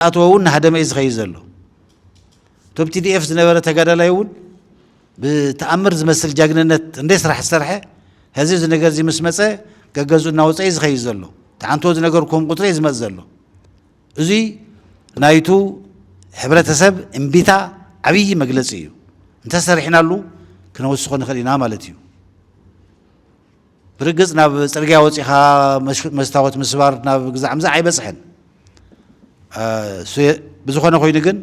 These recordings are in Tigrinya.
ኣቶ እውን ናህደመ እዩ ዝኸይድ ዘሎ። እቶም ቲዲኤፍ ዝነበረ ተጋዳላይ እውን ብተኣምር ዝመስል ጃግንነት እንደ ስራሕ ዝሰርሐ ሕዚ እዚ ነገር እዚ ምስ መፀ ገገዙ እናወፀ እዩ ዝኸይድ ዘሎ። ተዓንቶ ዝነገርኩም ቁፅሪ እዩ ዝመፅ ዘሎ። እዙይ ናይቱ ሕብረተሰብ እምቢታ ዓብዪ መግለፂ እዩ። እንተሰሪሕናሉ ክነወስኾ ንኽእል ኢና ማለት እዩ። ብርግጽ ናብ ጽርግያ ወጺኻ መስታወት ምስባር ናብ ግዛዕ ምዛዕ ኣይበጽሕን። ብዝኾነ ኮይኑ ግን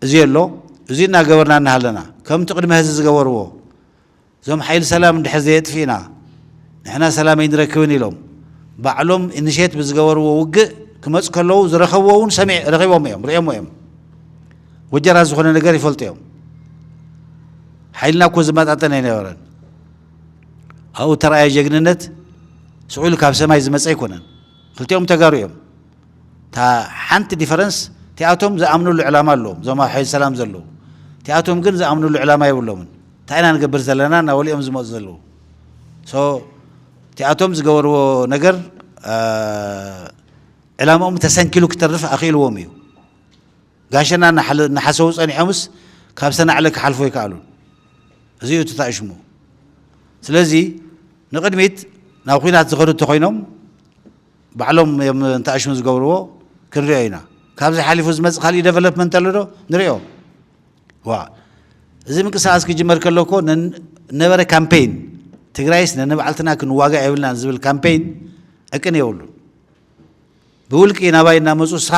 እዚ ኣሎ እዚ እናገበርና እናሃለና ከምቲ ቅድሚ ሀዚ ዝገበርዎ እዞም ሓይሊ ሰላም እንድሕር ዘየጥፊእና ንሕና ሰላም ኣይንረክብን ኢሎም ባዕሎም ኢኒሼት ብዝገበርዎ ውግእ ክመፅ ከለዉ ዝረኸብዎ እውን ሰሚዕ ረኺቦም እዮም ሪኦሞ እዮም ወጀራት ዝኾነ ነገር ይፈልጡ እዮም ሓይልና እኮ ዝመጣጠን ኣይነበረን ኣብኡ እተራእየ ጀግንነት ስዑል ካብ ሰማይ ዝመፀ ኣይኮነን። ክልቲኦም ተጋሩ እዮም። እታ ሓንቲ ዲፈረንስ እቲኣቶም ዝኣምንሉ ዕላማ ኣለዎም፣ እዞም ኣብ ሓይሊ ሰላም ዘለዉ። እቲኣቶም ግን ዝኣምንሉ ዕላማ የብሎምን። እንታይ ኢና ንገብር ዘለና እናበሉ'ዮም ዝመፁ ዘለዉ። ሶ እቲኣቶም ዝገበርዎ ነገር ዕላምኦም ተሰንኪሉ ክተርፍ ኣኽኢልዎም እዩ። ጋሸና እናሓሰዉ ጸኒሖምስ ካብ ሰናዕለ ክሓልፉ ኣይከኣሉን። እዚ'ዩ እቲ ታእሽሙ። ስለዚ ንቕድሚት ናብ ኹናት ዝኸዱ እንተኾይኖም ባዕሎም እዮም ንታእሽሙ ዝገብርዎ ክንሪኦ ኢና። ካብዚ ሓሊፉ ዝመጽእ ካልእ ደቨሎፕመንት ኣሎዶ? ንሪኦ። ዋእ እዚ ምንቅስቓስ ክጅመር ከሎ እኮ ነበረ ካምፔይን ትግራይስ ነንባዕልትና ክንዋጋእ የብልናን ዝብል ካምፔይን ዕቅን የብሉን። ብውልቂ ናባይ እናመጹ ንስኻ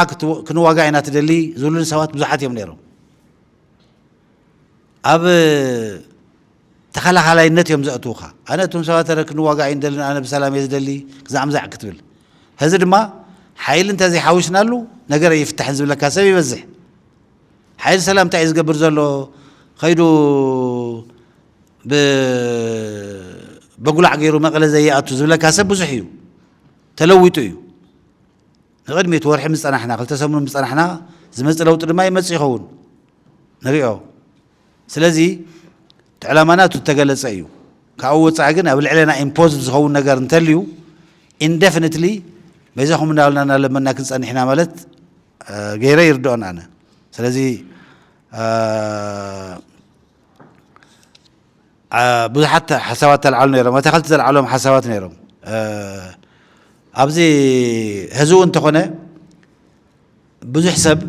ክንዋጋእ ኢና ትደሊ ዝብሉኒ ሰባት ብዙሓት እዮም ነይሮም። ኣብ ተኸላኻላይነት እዮም ዘእትውኻ። ኣነ እቶም ሰባት ረ ክንዋጋእ ኣይንደልን ኣነ ብሰላም እየ ዝደሊ ግዛዕምዛዕ ክትብል ህዚ ድማ ሓይሊ እንተዘይሓዊስናሉ ነገር ኣይፍታሕን ዝብለካ ሰብ ይበዝሕ። ሓይሊ ሰላም እንታይ እዩ ዝገብር ዘሎ ከይዱ በጉላዕ ገይሩ መቐለ ዘይኣቱ ዝብለካ ሰብ ብዙሕ እዩ። ተለዊጡ እዩ። ንቕድሚት ወርሒ ምስ ጸናሕና፣ ክልተ ሰሙን ምስ ጸናሕና ዝመጽእ ለውጢ ድማ ይመጽእ ይኸውን። ንሪኦ። ስለዚ እቲ ዕላማና እቲ ዝተገለጸ እዩ። ካብኡ ወጻኢ ግን ኣብ ልዕሌና ኢምፖዝድ ዝኸውን ነገር እንተልዩ ኢንደፍኒትሊ በይዛኹም እናበልና እናለመና ክንጸንሕ ኢና ማለት ገይረ ይርድኦን ኣነ። ስለዚ ብዙሓት ሓሳባት ተልዓሉ ነይሮም ኣታኸልቲ ዘልዓሎም ሓሳባት ነይሮም ኣብዚ ሕዚ እውን እንተኾነ ብዙሕ ሰብ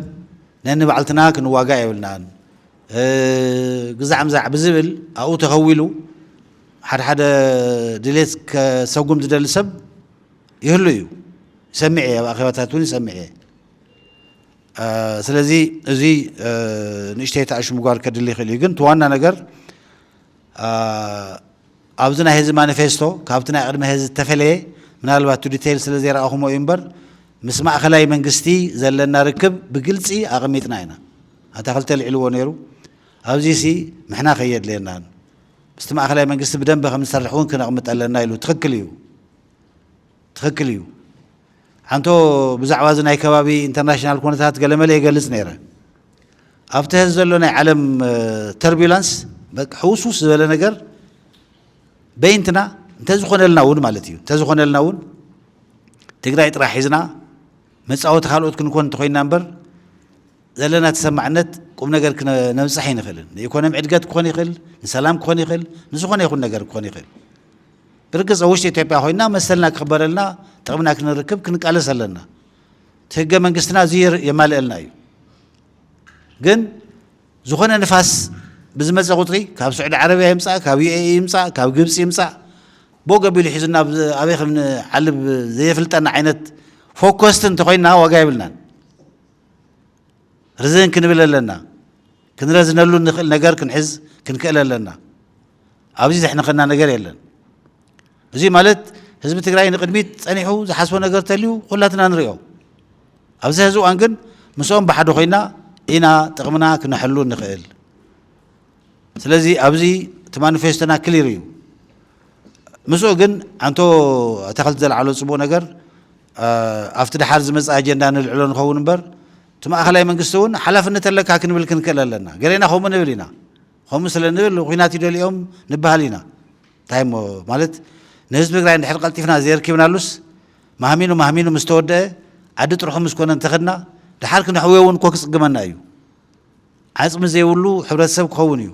ነንባዕልትና ክንዋጋእ የብልናን ግዛዕ ምዛዕ ብዝብል ኣብኡ ተኸዊሉ ሓደ ሓደ ድሌት ከሰጉም ዝደሊ ሰብ ይህሉ እዩ ይሰምዕ እየ ኣብ ኣኼባታት እውን ይሰምዕ እየ ስለዚ እዚ ንእሽተይ ታሽ ምጓር ከድሊ ይኽእል እዩ ግን ትዋና ነገር ኣብዚ ናይ ህዚ ማኒፌስቶ ካብቲ ናይ ቅድሚ ህዚ ዝተፈለየ ምናልባት ቱ ዲቴይል ስለ ዘይረኣኹሞ እዩ እምበር ምስ ማእኸላይ መንግስቲ ዘለና ርክብ ብግልፂ ኣቐሚጥና ኢና ኣታ ክልተ ኣልዒልዎ ነይሩ ኣብዚ ሲ ምሕና ከየድልየናን ምስቲ ማእኸላይ መንግስቲ ብደንበ ከም ዝሰርሕ እውን ክነቕምጥ ኣለና ኢሉ ትኽክል እዩ ትክክል እዩ ሓንቶ ብዛዕባ እዚ ናይ ከባቢ ኢንተርናሽናል ኩነታት ገለመለ የገልጽ ነይረ ኣብቲ ሀዚ ዘሎ ናይ ዓለም ተርቢላንስ ሕውስውስ ዝበለ ነገር በይንትና እንተዝኾነልና እውን ማለት እዩ እንተዝኾነልና እውን ትግራይ ጥራሕ ሒዝና መፃወቲ ካልኦት ክንኮን እንተኮይና እምበር ዘለና ተሰማዕነት ቁም ነገር ክነብፅሕ ኣይንኽእልን ንኢኮኖሚ ዕድገት ክኾን ይኽእል ንሰላም ክኾን ይኽእል ንዝኾነ ይኹን ነገር ክኾን ይኽእል ብርግጽ ኣብ ውሽጢ ኢትዮጵያ ኮይና መሰልና ክኽበረልና ጥቕምና ክንርክብ ክንቃለስ ኣለና። እቲ ህገ መንግስትና እዚ የማልእልና እዩ። ግን ዝኾነ ንፋስ ብዝመፀ ቁፅሪ ካብ ስዑዲ ዓረብያ ይምፃእ ካብ ዩኤኢ ይምፃእ ካብ ግብፂ ይምፃእ ቦ ገቢሉ ሒዙና ኣበይ ከም ንዓልብ ዘየፍልጠና ዓይነት ፎከስቲ እንተኮይንና ዋጋ የብልናን። ርዝን ክንብል ኣለና። ክንረዝነሉ ንኽእል ነገር ክንሕዝ ክንክእል ኣለና። ኣብዚ ዘሕንኸና ነገር የለን። እዙይ ማለት ህዝቢ ትግራይ ንቅድሚት ጸኒሑ ዝሓስቦ ነገር ተልዩ ኩላትና ንሪኦ። ኣብዚ ሕዚ እዋን ግን ምስኦም ብሓደ ኮይና ኢና ጥቕምና ክነሕሉ እንኽእል። ስለዚ ኣብዚ እቲ ማኒፌስቶና ክሊር እዩ። ምስኡ ግን ኣንቶ ኣታኽልቲ ዘልዓሎ ጽቡቕ ነገር ኣብቲ ድሓር ዝመጽእ ኣጀንዳ ንልዕሎ ንኸውን እምበር እቲ ማእኸላይ መንግስቲ እውን ሓላፍነት ኣለካ ክንብል ክንክእል ኣለና። ገሌና ከምኡ ንብል ኢና። ከምኡ ስለ ንብል ኹናት ይደልዮም ንበሃል ኢና እንታይ እሞ ማለት ንህዝቢ ትግራይ እንድሕር ቀልጢፍና ዘየርኪብናሉስ ማህሚኑ ማህሚኑ ምስ ተወደአ ዓዲ ጥርሑ ምስ ኮነ እንተኸድና ድሓር ክነሕውዮ እውን እኮ ክፅግመና እዩ ዓፅሚ ዘይብሉ ሕብረተሰብ ክኸውን እዩ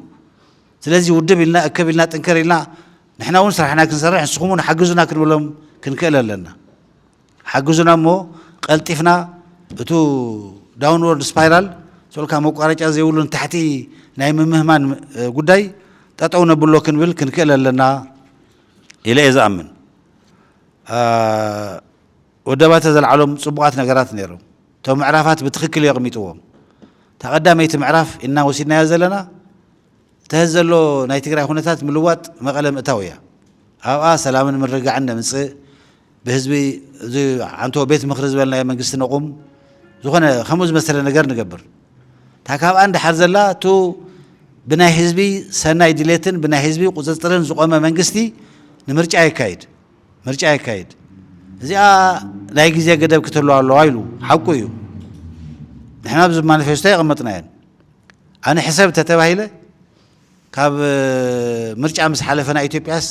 ስለዚ ውድብ ኢልና እከብ ኢልና ጥንከር ኢልና ንሕና እውን ስራሕና ክንሰርሕ ንስኹም እውን ሓግዙና ክንብሎም ክንክእል ኣለና ሓግዙና እሞ ቀልጢፍና እቱ ዳውንዎርድ ስፓይራል ሶልካ መቋረጫ ዘይብሉ ንታሕቲ ናይ ምምህማን ጉዳይ ጠጠው ነብሎ ክንብል ክንክእል ኣለና ኢለ እየ ዝኣምን። ወደባተ ዘልዓሎም ፅቡቓት ነገራት ነይሮም። እቶም ምዕራፋት ብትኽክል እዩ ኣቕሚጥዎም። እታ ቀዳመይቲ ምዕራፍ ኢና ወሲድናያ ዘለና እቲ ሀዚ ዘሎ ናይ ትግራይ ኩነታት ምልዋጥ መቐለ ምእታው እያ። ኣብኣ ሰላምን ምርግጋዕን ነምፅእ፣ ብህዝቢ እዚ ዓንቶ ቤት ምኽሪ ዝበልናዮ መንግስቲ ነቑም ዝኾነ ከምኡ ዝመሰለ ነገር ንገብር እታ ካብኣ ንድሓር ዘላ እቱ ብናይ ህዝቢ ሰናይ ድሌትን ብናይ ህዝቢ ቁፅፅርን ዝቆመ መንግስቲ ንምርጫ የካይድ ምርጫ የካይድ እዚኣ ናይ ግዜ ገደብ ክተሉ ኣለዋ ኢሉ ሓቁ እዩ ንሕና ብዚ ማኒፌስቶ የቐመጥናየን ኣነ ሕሰብ ተተባሂለ ካብ ምርጫ ምስ ሓለፈ ናይ ኢትዮጵያስ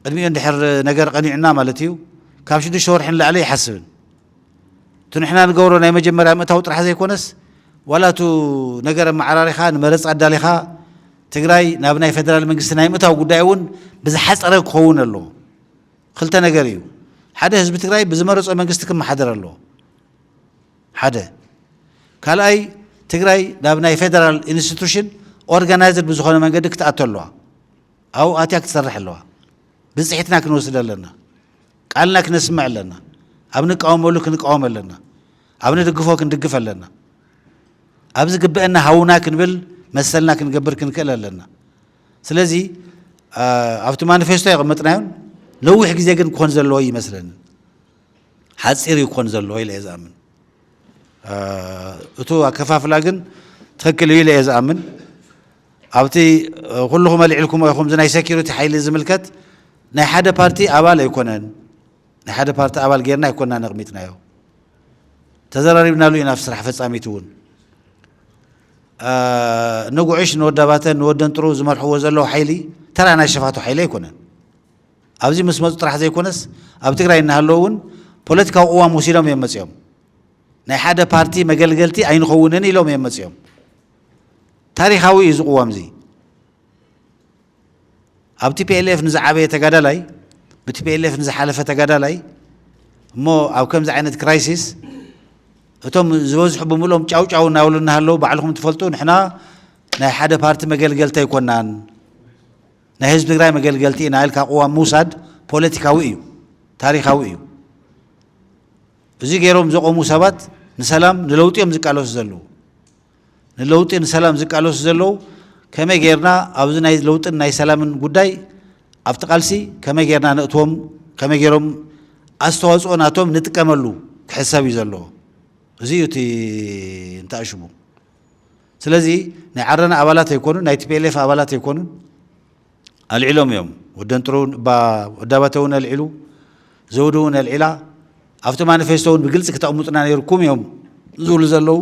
ቅድሚኡ እንድሕር ነገር ቀኒዑና ማለት እዩ ካብ ሽዱሽተ ወርሒ ንላዕሊ ኣይሓስብን እቲ ንሕና ንገብሮ ናይ መጀመርያ ምእታው ጥራሕ ዘይኮነስ ዋላ እቱ ነገር ኣመዓራሪኻ ንመረፃ ኣዳሊኻ ትግራይ ናብ ናይ ፌደራል መንግስቲ ናይ ምእታው ጉዳይ እውን ብዝሓፀረ ክኸውን ኣለዎ ክልተ ነገር እዩ ሓደ ህዝቢ ትግራይ ብዝመረፆ መንግስቲ ክመሓደር ኣለዎ ሓደ። ካልኣይ ትግራይ ናብ ናይ ፌደራል ኢንስቲቱሽን ኦርጋናይዝድ ብዝኾነ መንገዲ ክትኣቱ ኣለዋ። ኣብኡ ኣትያ ክትሰርሕ ኣለዋ። ብፅሒትና ክንወስድ ኣለና። ቃልና ክነስምዕ ኣለና። ኣብ ንቃወመሉ ክንቃወም ኣለና። ኣብ ንድግፎ ክንድግፍ ኣለና። ኣብ ዝግበአና ሃውና ክንብል መሰልና ክንገብር ክንክእል ኣለና። ስለዚ ኣብቲ ማኒፌስቶ የቐመጥናዮን ነዊሕ ግዜ ግን ክኾን ዘለዎ እዩ ይመስለኒ። ሓጺር እዩ ክኾን ዘለዎ ኢለ እየ ዝኣምን። እቱ ኣከፋፍላ ግን ትኽክል እዩ ኢለ እየ ዝኣምን። ኣብቲ ኩልኹም ኣልዒልኩሞ ኢኹም እዚ ናይ ሴኪሪቲ ሓይሊ ዝምልከት ናይ ሓደ ፓርቲ ኣባል ኣይኮነን። ናይ ሓደ ፓርቲ ኣባል ጌርና ኣይኮና ነቕሚጥናዮ ተዘራሪብናሉ ኢና ኣብ ስራሕ ፈጻሚት እውን ንጉዕሽ ንወዳባተ ንወደንጥሩ ዝመርሕዎ ዘለዉ ሓይሊ ተራ ናይ ሸፋቱ ሓይሊ ኣይኮነን። ኣብዚ ምስ መፁ ጥራሕ ዘይኮነስ ኣብ ትግራይ እናሃለዉ እውን ፖለቲካዊ ቅዋም ወሲዶም እዮም መፂኦም። ናይ ሓደ ፓርቲ መገልገልቲ ኣይንኸውንን ኢሎም እዮም መፂኦም። ታሪኻዊ እዩ እዚ ቅዋም እዚ። ኣብ ቲፒኤልኤፍ ንዝዓበየ ተጋዳላይ ብቲፒኤልኤፍ ንዝሓለፈ ተጋዳላይ እሞ ኣብ ከምዚ ዓይነት ክራይሲስ እቶም ዝበዝሑ ብምልኦም ጫውጫው እናበሉ እናሃለዉ ባዕልኹም ትፈልጡ ንሕና ናይ ሓደ ፓርቲ መገልገልቲ ኣይኮናን ናይ ህዝቢ ትግራይ መገልገልቲ ኢና ኢልካ ቅዋም ምውሳድ ፖለቲካዊ እዩ፣ ታሪኻዊ እዩ። እዚ ገይሮም ዘቖሙ ሰባት ንሰላም ንለውጢ እዮም ዝቃለሱ ዘለዉ። ንለውጢ ንሰላም ዝቃለሱ ዘለዉ ከመይ ጌርና ኣብዚ ናይ ለውጥን ናይ ሰላምን ጉዳይ ኣብቲ ቃልሲ ከመይ ጌርና ነእትዎም ከመይ ጌሮም ኣስተዋፅኦ ናቶም ንጥቀመሉ ክሕሰብ እዩ ዘለዎ። እዚ እዩ እቲ እንተኣሽሙ ስለዚ ናይ ዓረና ኣባላት ኣይኮኑን፣ ናይ ቲፒኤልኤፍ ኣባላት ኣይኮኑን፣ ኣልዒሎም እዮም። ወደንጥሩ ወዳባተ እውን ኣልዒሉ፣ ዘውዲ እውን ኣልዒላ፣ ኣብቲ ማኒፌስቶ እውን ብግልፂ ክተቕምጡና ነይርኩም እዮም ዝብሉ ዘለዉ።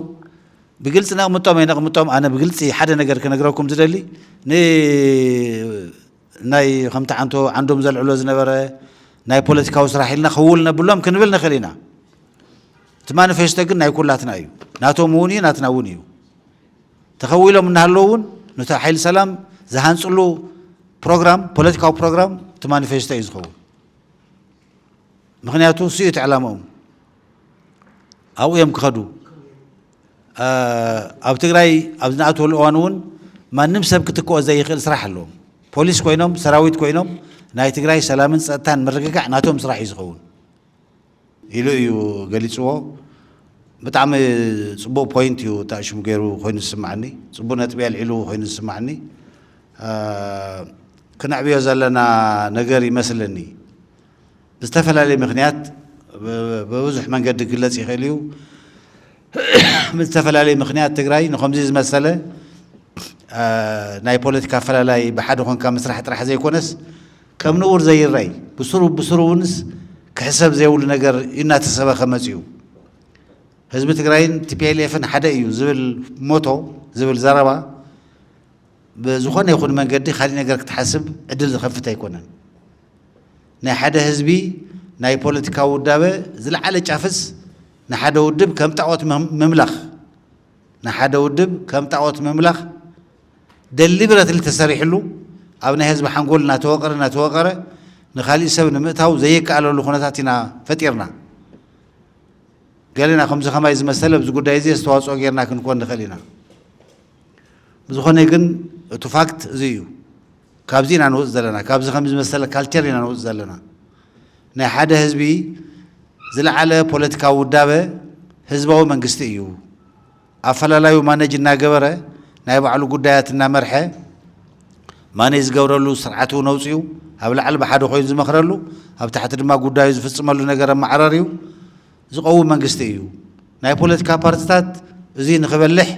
ብግልፂ ነቕምጦም ኣይነቕምጦም ኣነ ብግልፂ ሓደ ነገር ክነግረኩም ዝደሊ ን ናይ ከምቲ ዓንቶ ዓንዶም ዘልዕሎ ዝነበረ ናይ ፖለቲካዊ ስራሕ ኢልና ክውል ነብሎም ክንብል ንኽእል ኢና። እቲ ማኒፌስቶ ግን ናይ ኩላትና እዩ፣ ናቶም እውን እዩ፣ ናትና እውን እዩ። ተኸዊሎም እናሃለዉ እውን ነቲ ሓይሊ ሰላም ዝሃንፅሉ ፕሮግራም ፖለቲካዊ ፕሮግራም እቲ ማኒፌስቶ እዩ ዝኸውን። ምክንያቱ ንሱ እዩ እቲ ዕላምኦም፣ ኣብኡ እዮም ክኸዱ። ኣብ ትግራይ ኣብ ዝነኣትወሉ እዋን እውን ማንም ሰብ ክትክኦ ዘይኽእል ስራሕ ኣለዎም። ፖሊስ ኮይኖም ሰራዊት ኮይኖም ናይ ትግራይ ሰላምን ፀጥታን ምርግጋዕ ናቶም ስራሕ እዩ ዝኸውን ኢሉ እዩ ገሊፅዎ። ብጣዕሚ ፅቡቅ ፖይንት እዩ ጣሽሙ ገይሩ ኮይኑ ዝስማዕኒ ፅቡቅ ነጥቢ ኣልዒሉ ኮይኑ ዝስማዕኒ ክነዕብዮ ዘለና ነገር ይመስለኒ። ብዝተፈላለየ ምክንያት ብብዙሕ መንገዲ ክግለፅ ይኽእል እዩ። ብዝተፈላለየ ምክንያት ትግራይ ንኸምዚ ዝመሰለ ናይ ፖለቲካ ኣፈላላይ ብሓደ ኮንካ ምስራሕ ጥራሕ ዘይኮነስ ከም ንቡር ዘይረይ ብስሩ ብስሩ እውንስ ክሕሰብ ዘይብሉ ነገር እናተሰበኸ መፅኡ። ህዝቢ ትግራይን ቲፒኤልኤፍን ሓደ እዩ ዝብል ሞቶ ዝብል ዘረባ ብዝኾነ ይኹን መንገዲ ካሊእ ነገር ክትሓስብ ዕድል ዝኸፍት ኣይኮነን። ናይ ሓደ ህዝቢ ናይ ፖለቲካዊ ውዳበ ዝለዓለ ጫፍስ ንሓደ ውድብ ከም ጣዖት ምምላኽ ንሓደ ውድብ ከም ጣዖት ምምላኽ ደሊብረትሊ ተሰሪሕሉ ኣብ ናይ ህዝቢ ሓንጎል እናተወቀረ እናተወቀረ ንካሊእ ሰብ ንምእታው ዘይከኣለሉ ኩነታት ኢና ፈጢርና። ገለና ከምዚ ከማይ ዝመሰለ ኣብዚ ጉዳይ እዚ ኣስተዋፅኦ ጌርና ክንኮን ንኽእል ኢና። ብዝኾነ ግን እቲ ፋክት እዚ እዩ። ካብዚ ኢና ንውፅ ዘለና ካብዚ ከምዚ ዝመሰለ ካልቸር ኢና ንውፅ ዘለና ናይ ሓደ ህዝቢ ዝለዓለ ፖለቲካዊ ውዳበ ህዝባዊ መንግስቲ እዩ ኣፈላላዩ ማነጅ እናገበረ ናይ ባዕሉ ጉዳያት እናመርሐ ማነጅ ዝገብረሉ ስርዓት እውን ኣውፅኡ ኣብ ላዕሊ ብሓደ ኮይኑ ዝመኽረሉ ኣብ ታሕቲ ድማ ጉዳዩ ዝፍፅመሉ ነገር ኣመዓራርዩ ዝቐውም መንግስቲ እዩ። ናይ ፖለቲካ ፓርትታት እዙይ ንክበልሕ፣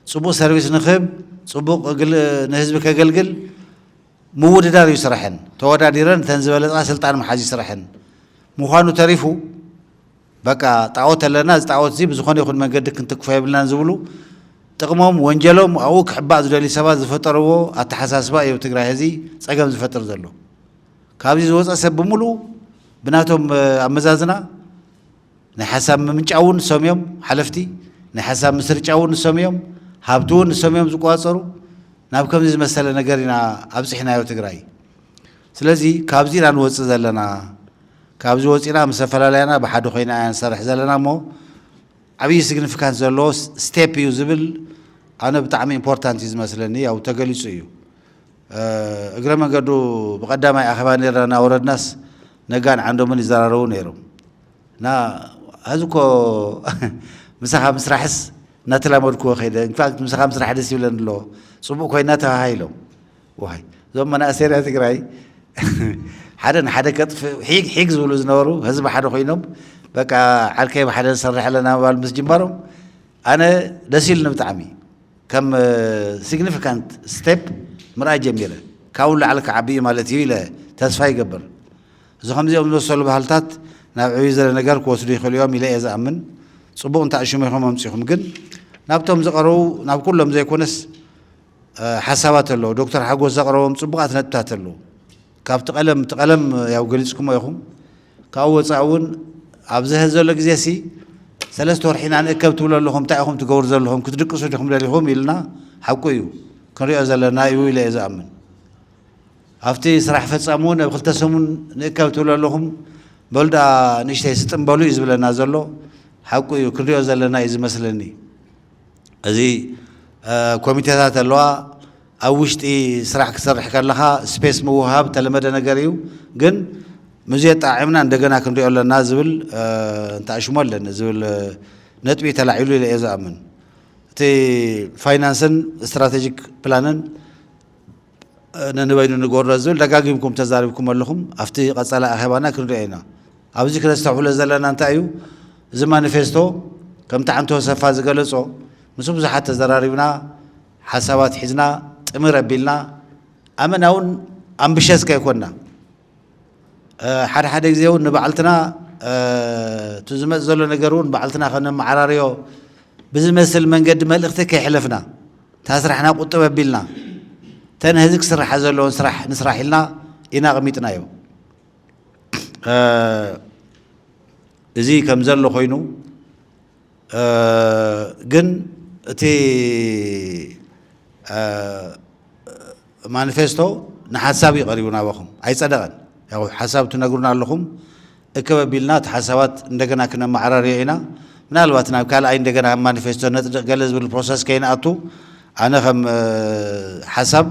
ፅቡቕ ሰርቪስ ንክህብ፣ ፅቡቕ ንህዝቢ ከገልግል ምውድዳር እዩ ስረሐን። ተወዳዲረን እተን ዝበለፃ ስልጣን ምሓዝ እዩ ስረሐን። ምዃኑ ተሪፉ በቃ ጣዖት ኣለና እዚ ጣዖት እዚ ብዝኾነ ይኹን መንገዲ ክንትክፎ የብልናን ዝብሉ ጥቕሞም ወንጀሎም ኣብኡ ክሕባእ ዝደልዩ ሰባት ዝፈጠርዎ ኣተሓሳስባ እዩ ትግራይ ሕዚ ፀገም ዝፈጥር ዘሎ። ካብዚ ዝወፀ ሰብ ብምሉኡ ብናቶም ኣመዛዝና ናይ ሓሳብ ምምንጫው እውን ንሶም እዮም ሓለፍቲ፣ ናይ ሓሳብ ምስርጫው እውን ንሶም እዮም፣ ሃብቲ እውን ንሶም እዮም ዝቆፃፀሩ። ናብ ከምዚ ዝመሰለ ነገር ኢና ኣብፂሕናዮ ትግራይ። ስለዚ ካብዚ ኢና ንወፅእ ዘለና። ካብዚ ወፂእና ምስ ኣፈላላያና ብሓደ ኮይና ኢና ንሰርሕ ዘለና እሞ ዓብዪ ሲግኒፊካንስ ዘለዎ ስቴፕ እዩ ዝብል ኣነ ብጣዕሚ ኢምፖርታንት እዩ ዝመስለኒ። ያው ተገሊፁ እዩ። እግረ መንገዱ ብቀዳማይ ኣኼባ ኔርና እናወረድናስ ነጋን ዓንዶምን ይዘራረቡ ነይሮም እና ሀዚ እኮ ምሳኻ ምስራሕስ እናተላመድኩዎ ከይደ ኢንፋክት ምሳኻ ምስራሕ ደስ ይብለን ኣሎ ፅቡቅ ኮይና ተባሂሎም ዋይ እዞም መናእሰይ ናይ ትግራይ ሓደ ንሓደ ከጥፍእ ሒግ ሒግ ዝብሉ ዝነበሩ ህዝቢ ሓደ ኮይኖም በቃ ዓርከይ ብሓደ ንሰርሕ ኣለና ምባል ምስ ጅመሮም ኣነ ደስ ኢሉኒ ብጣዕሚ ከም significant step ምርኣይ ጀሚረ። ካብኡ ንላዕሊ ክዓቢ እዩ ማለት እዩ ኢለ ተስፋ ይገብር። እዚ ከምዚኦም ዝመሰሉ ባህልታት ናብ ዕብይ ዝበለ ነገር ክወስዱ ይኽእሉ እዮም ኢለ እየ ዝኣምን። ጽቡቕ እንታእ ሽሙ ኢኹም ኣምጺኹም ግን ናብቶም ዝቐረቡ ናብ ኩሎም ዘይኮነስ ሓሳባት ኣለዉ። ዶክተር ሓጎስ ዘቕረቦም ጽቡቓት ነጥብታት ኣለዉ። ካብቲ ቀለም እቲ ቀለም ያው ገሊጽኩሞ ኢኹም። ካብኡ ወጻኢ እውን ኣብዚ ሐዚ ዘሎ ግዜሲ ሰለስተ ወርሒ ኢና ንእከብ ትብሉ ኣለኹም፣ እንታይ ኢኹም ትገብሩ ዘለኹም፣ ክትድቅሱ ዲኹም ደሊኹም ኢልና ሓቁ እዩ ክንሪኦ ዘለና እዩ ኢለ እየ ዝኣምን። ኣብቲ ስራሕ ፈጻሚ እውን ኣብ ክልተ ሰሙን ንእከብ ትብሉ ኣለኹም በሉ ደኣ ንእሽተይ ስጥም በሉ እዩ ዝብለና ዘሎ፣ ሓቁ እዩ ክንሪኦ ዘለና እዩ ዝመስለኒ። እዚ ኮሚቴታት ኣለዋ፣ ኣብ ውሽጢ ስራሕ ክትሰርሕ ከለኻ ስፔስ ምውህሃብ እተለመደ ነገር እዩ፣ ግን ምስዚ ኣጠዓዒምና እንደገና ክንሪኦ ኣለና ዝብል እንተኣሽሞ ኣለኒ ዝብል ነጥቢ ተላዒሉ ኢለ እየ ዝኣምን። እቲ ፋይናንስን ስትራቴጂክ ፕላንን ነንበይኑ ንገብሮ ዝብል ደጋጊምኩም ተዛሪብኩም ኣለኹም፣ ኣብቲ ቀፃላይ ኣኼባና ክንሪኦ ኢና። ኣብዚ ክነስተብህሎ ዘለና እንታይ እዩ፣ እዚ ማኒፌስቶ ከምቲ ሓንቲ ወሰፋ ዝገለፆ ምስ ብዙሓት ተዘራሪብና፣ ሓሳባት ሒዝና ጥምር ኣቢልና ኣመናውን ኣምብሸስ ከይኮንና ሓደ ሓደ ግዜ እውን ንባዕልትና እቲ ዝመፅ ዘሎ ነገር እውን ባዕልትና ከነመዓራርዮ ብዝመስል መንገዲ መልእኽቲ ከይሕለፍና እታ ስራሕና ቁጥብ ኣቢልና ተን ህዚ ክስራሓ ዘለዎን ስራሕ ንስራሕ ኢልና ኢና ኣቕሚጥናዮ እዚ ከም ዘሎ ኮይኑ ግን እቲ ማኒፌስቶ ንሓሳብ እዩ ቀሪቡ ናባኹም ኣይጸደቐን። ያው ሓሳብ ትነግሩና ኣለኹም እክብ ኣቢልና እቲ ሓሳባት እንደገና ክነመዓራርዮ ኢና። ምናልባት ናብ ካልኣይ እንደገና ኣብ ማኒፌስቶ ነጽድቕ ገለ ዝብል ፕሮሰስ ከይንኣቱ ኣነ ከም ሓሳብ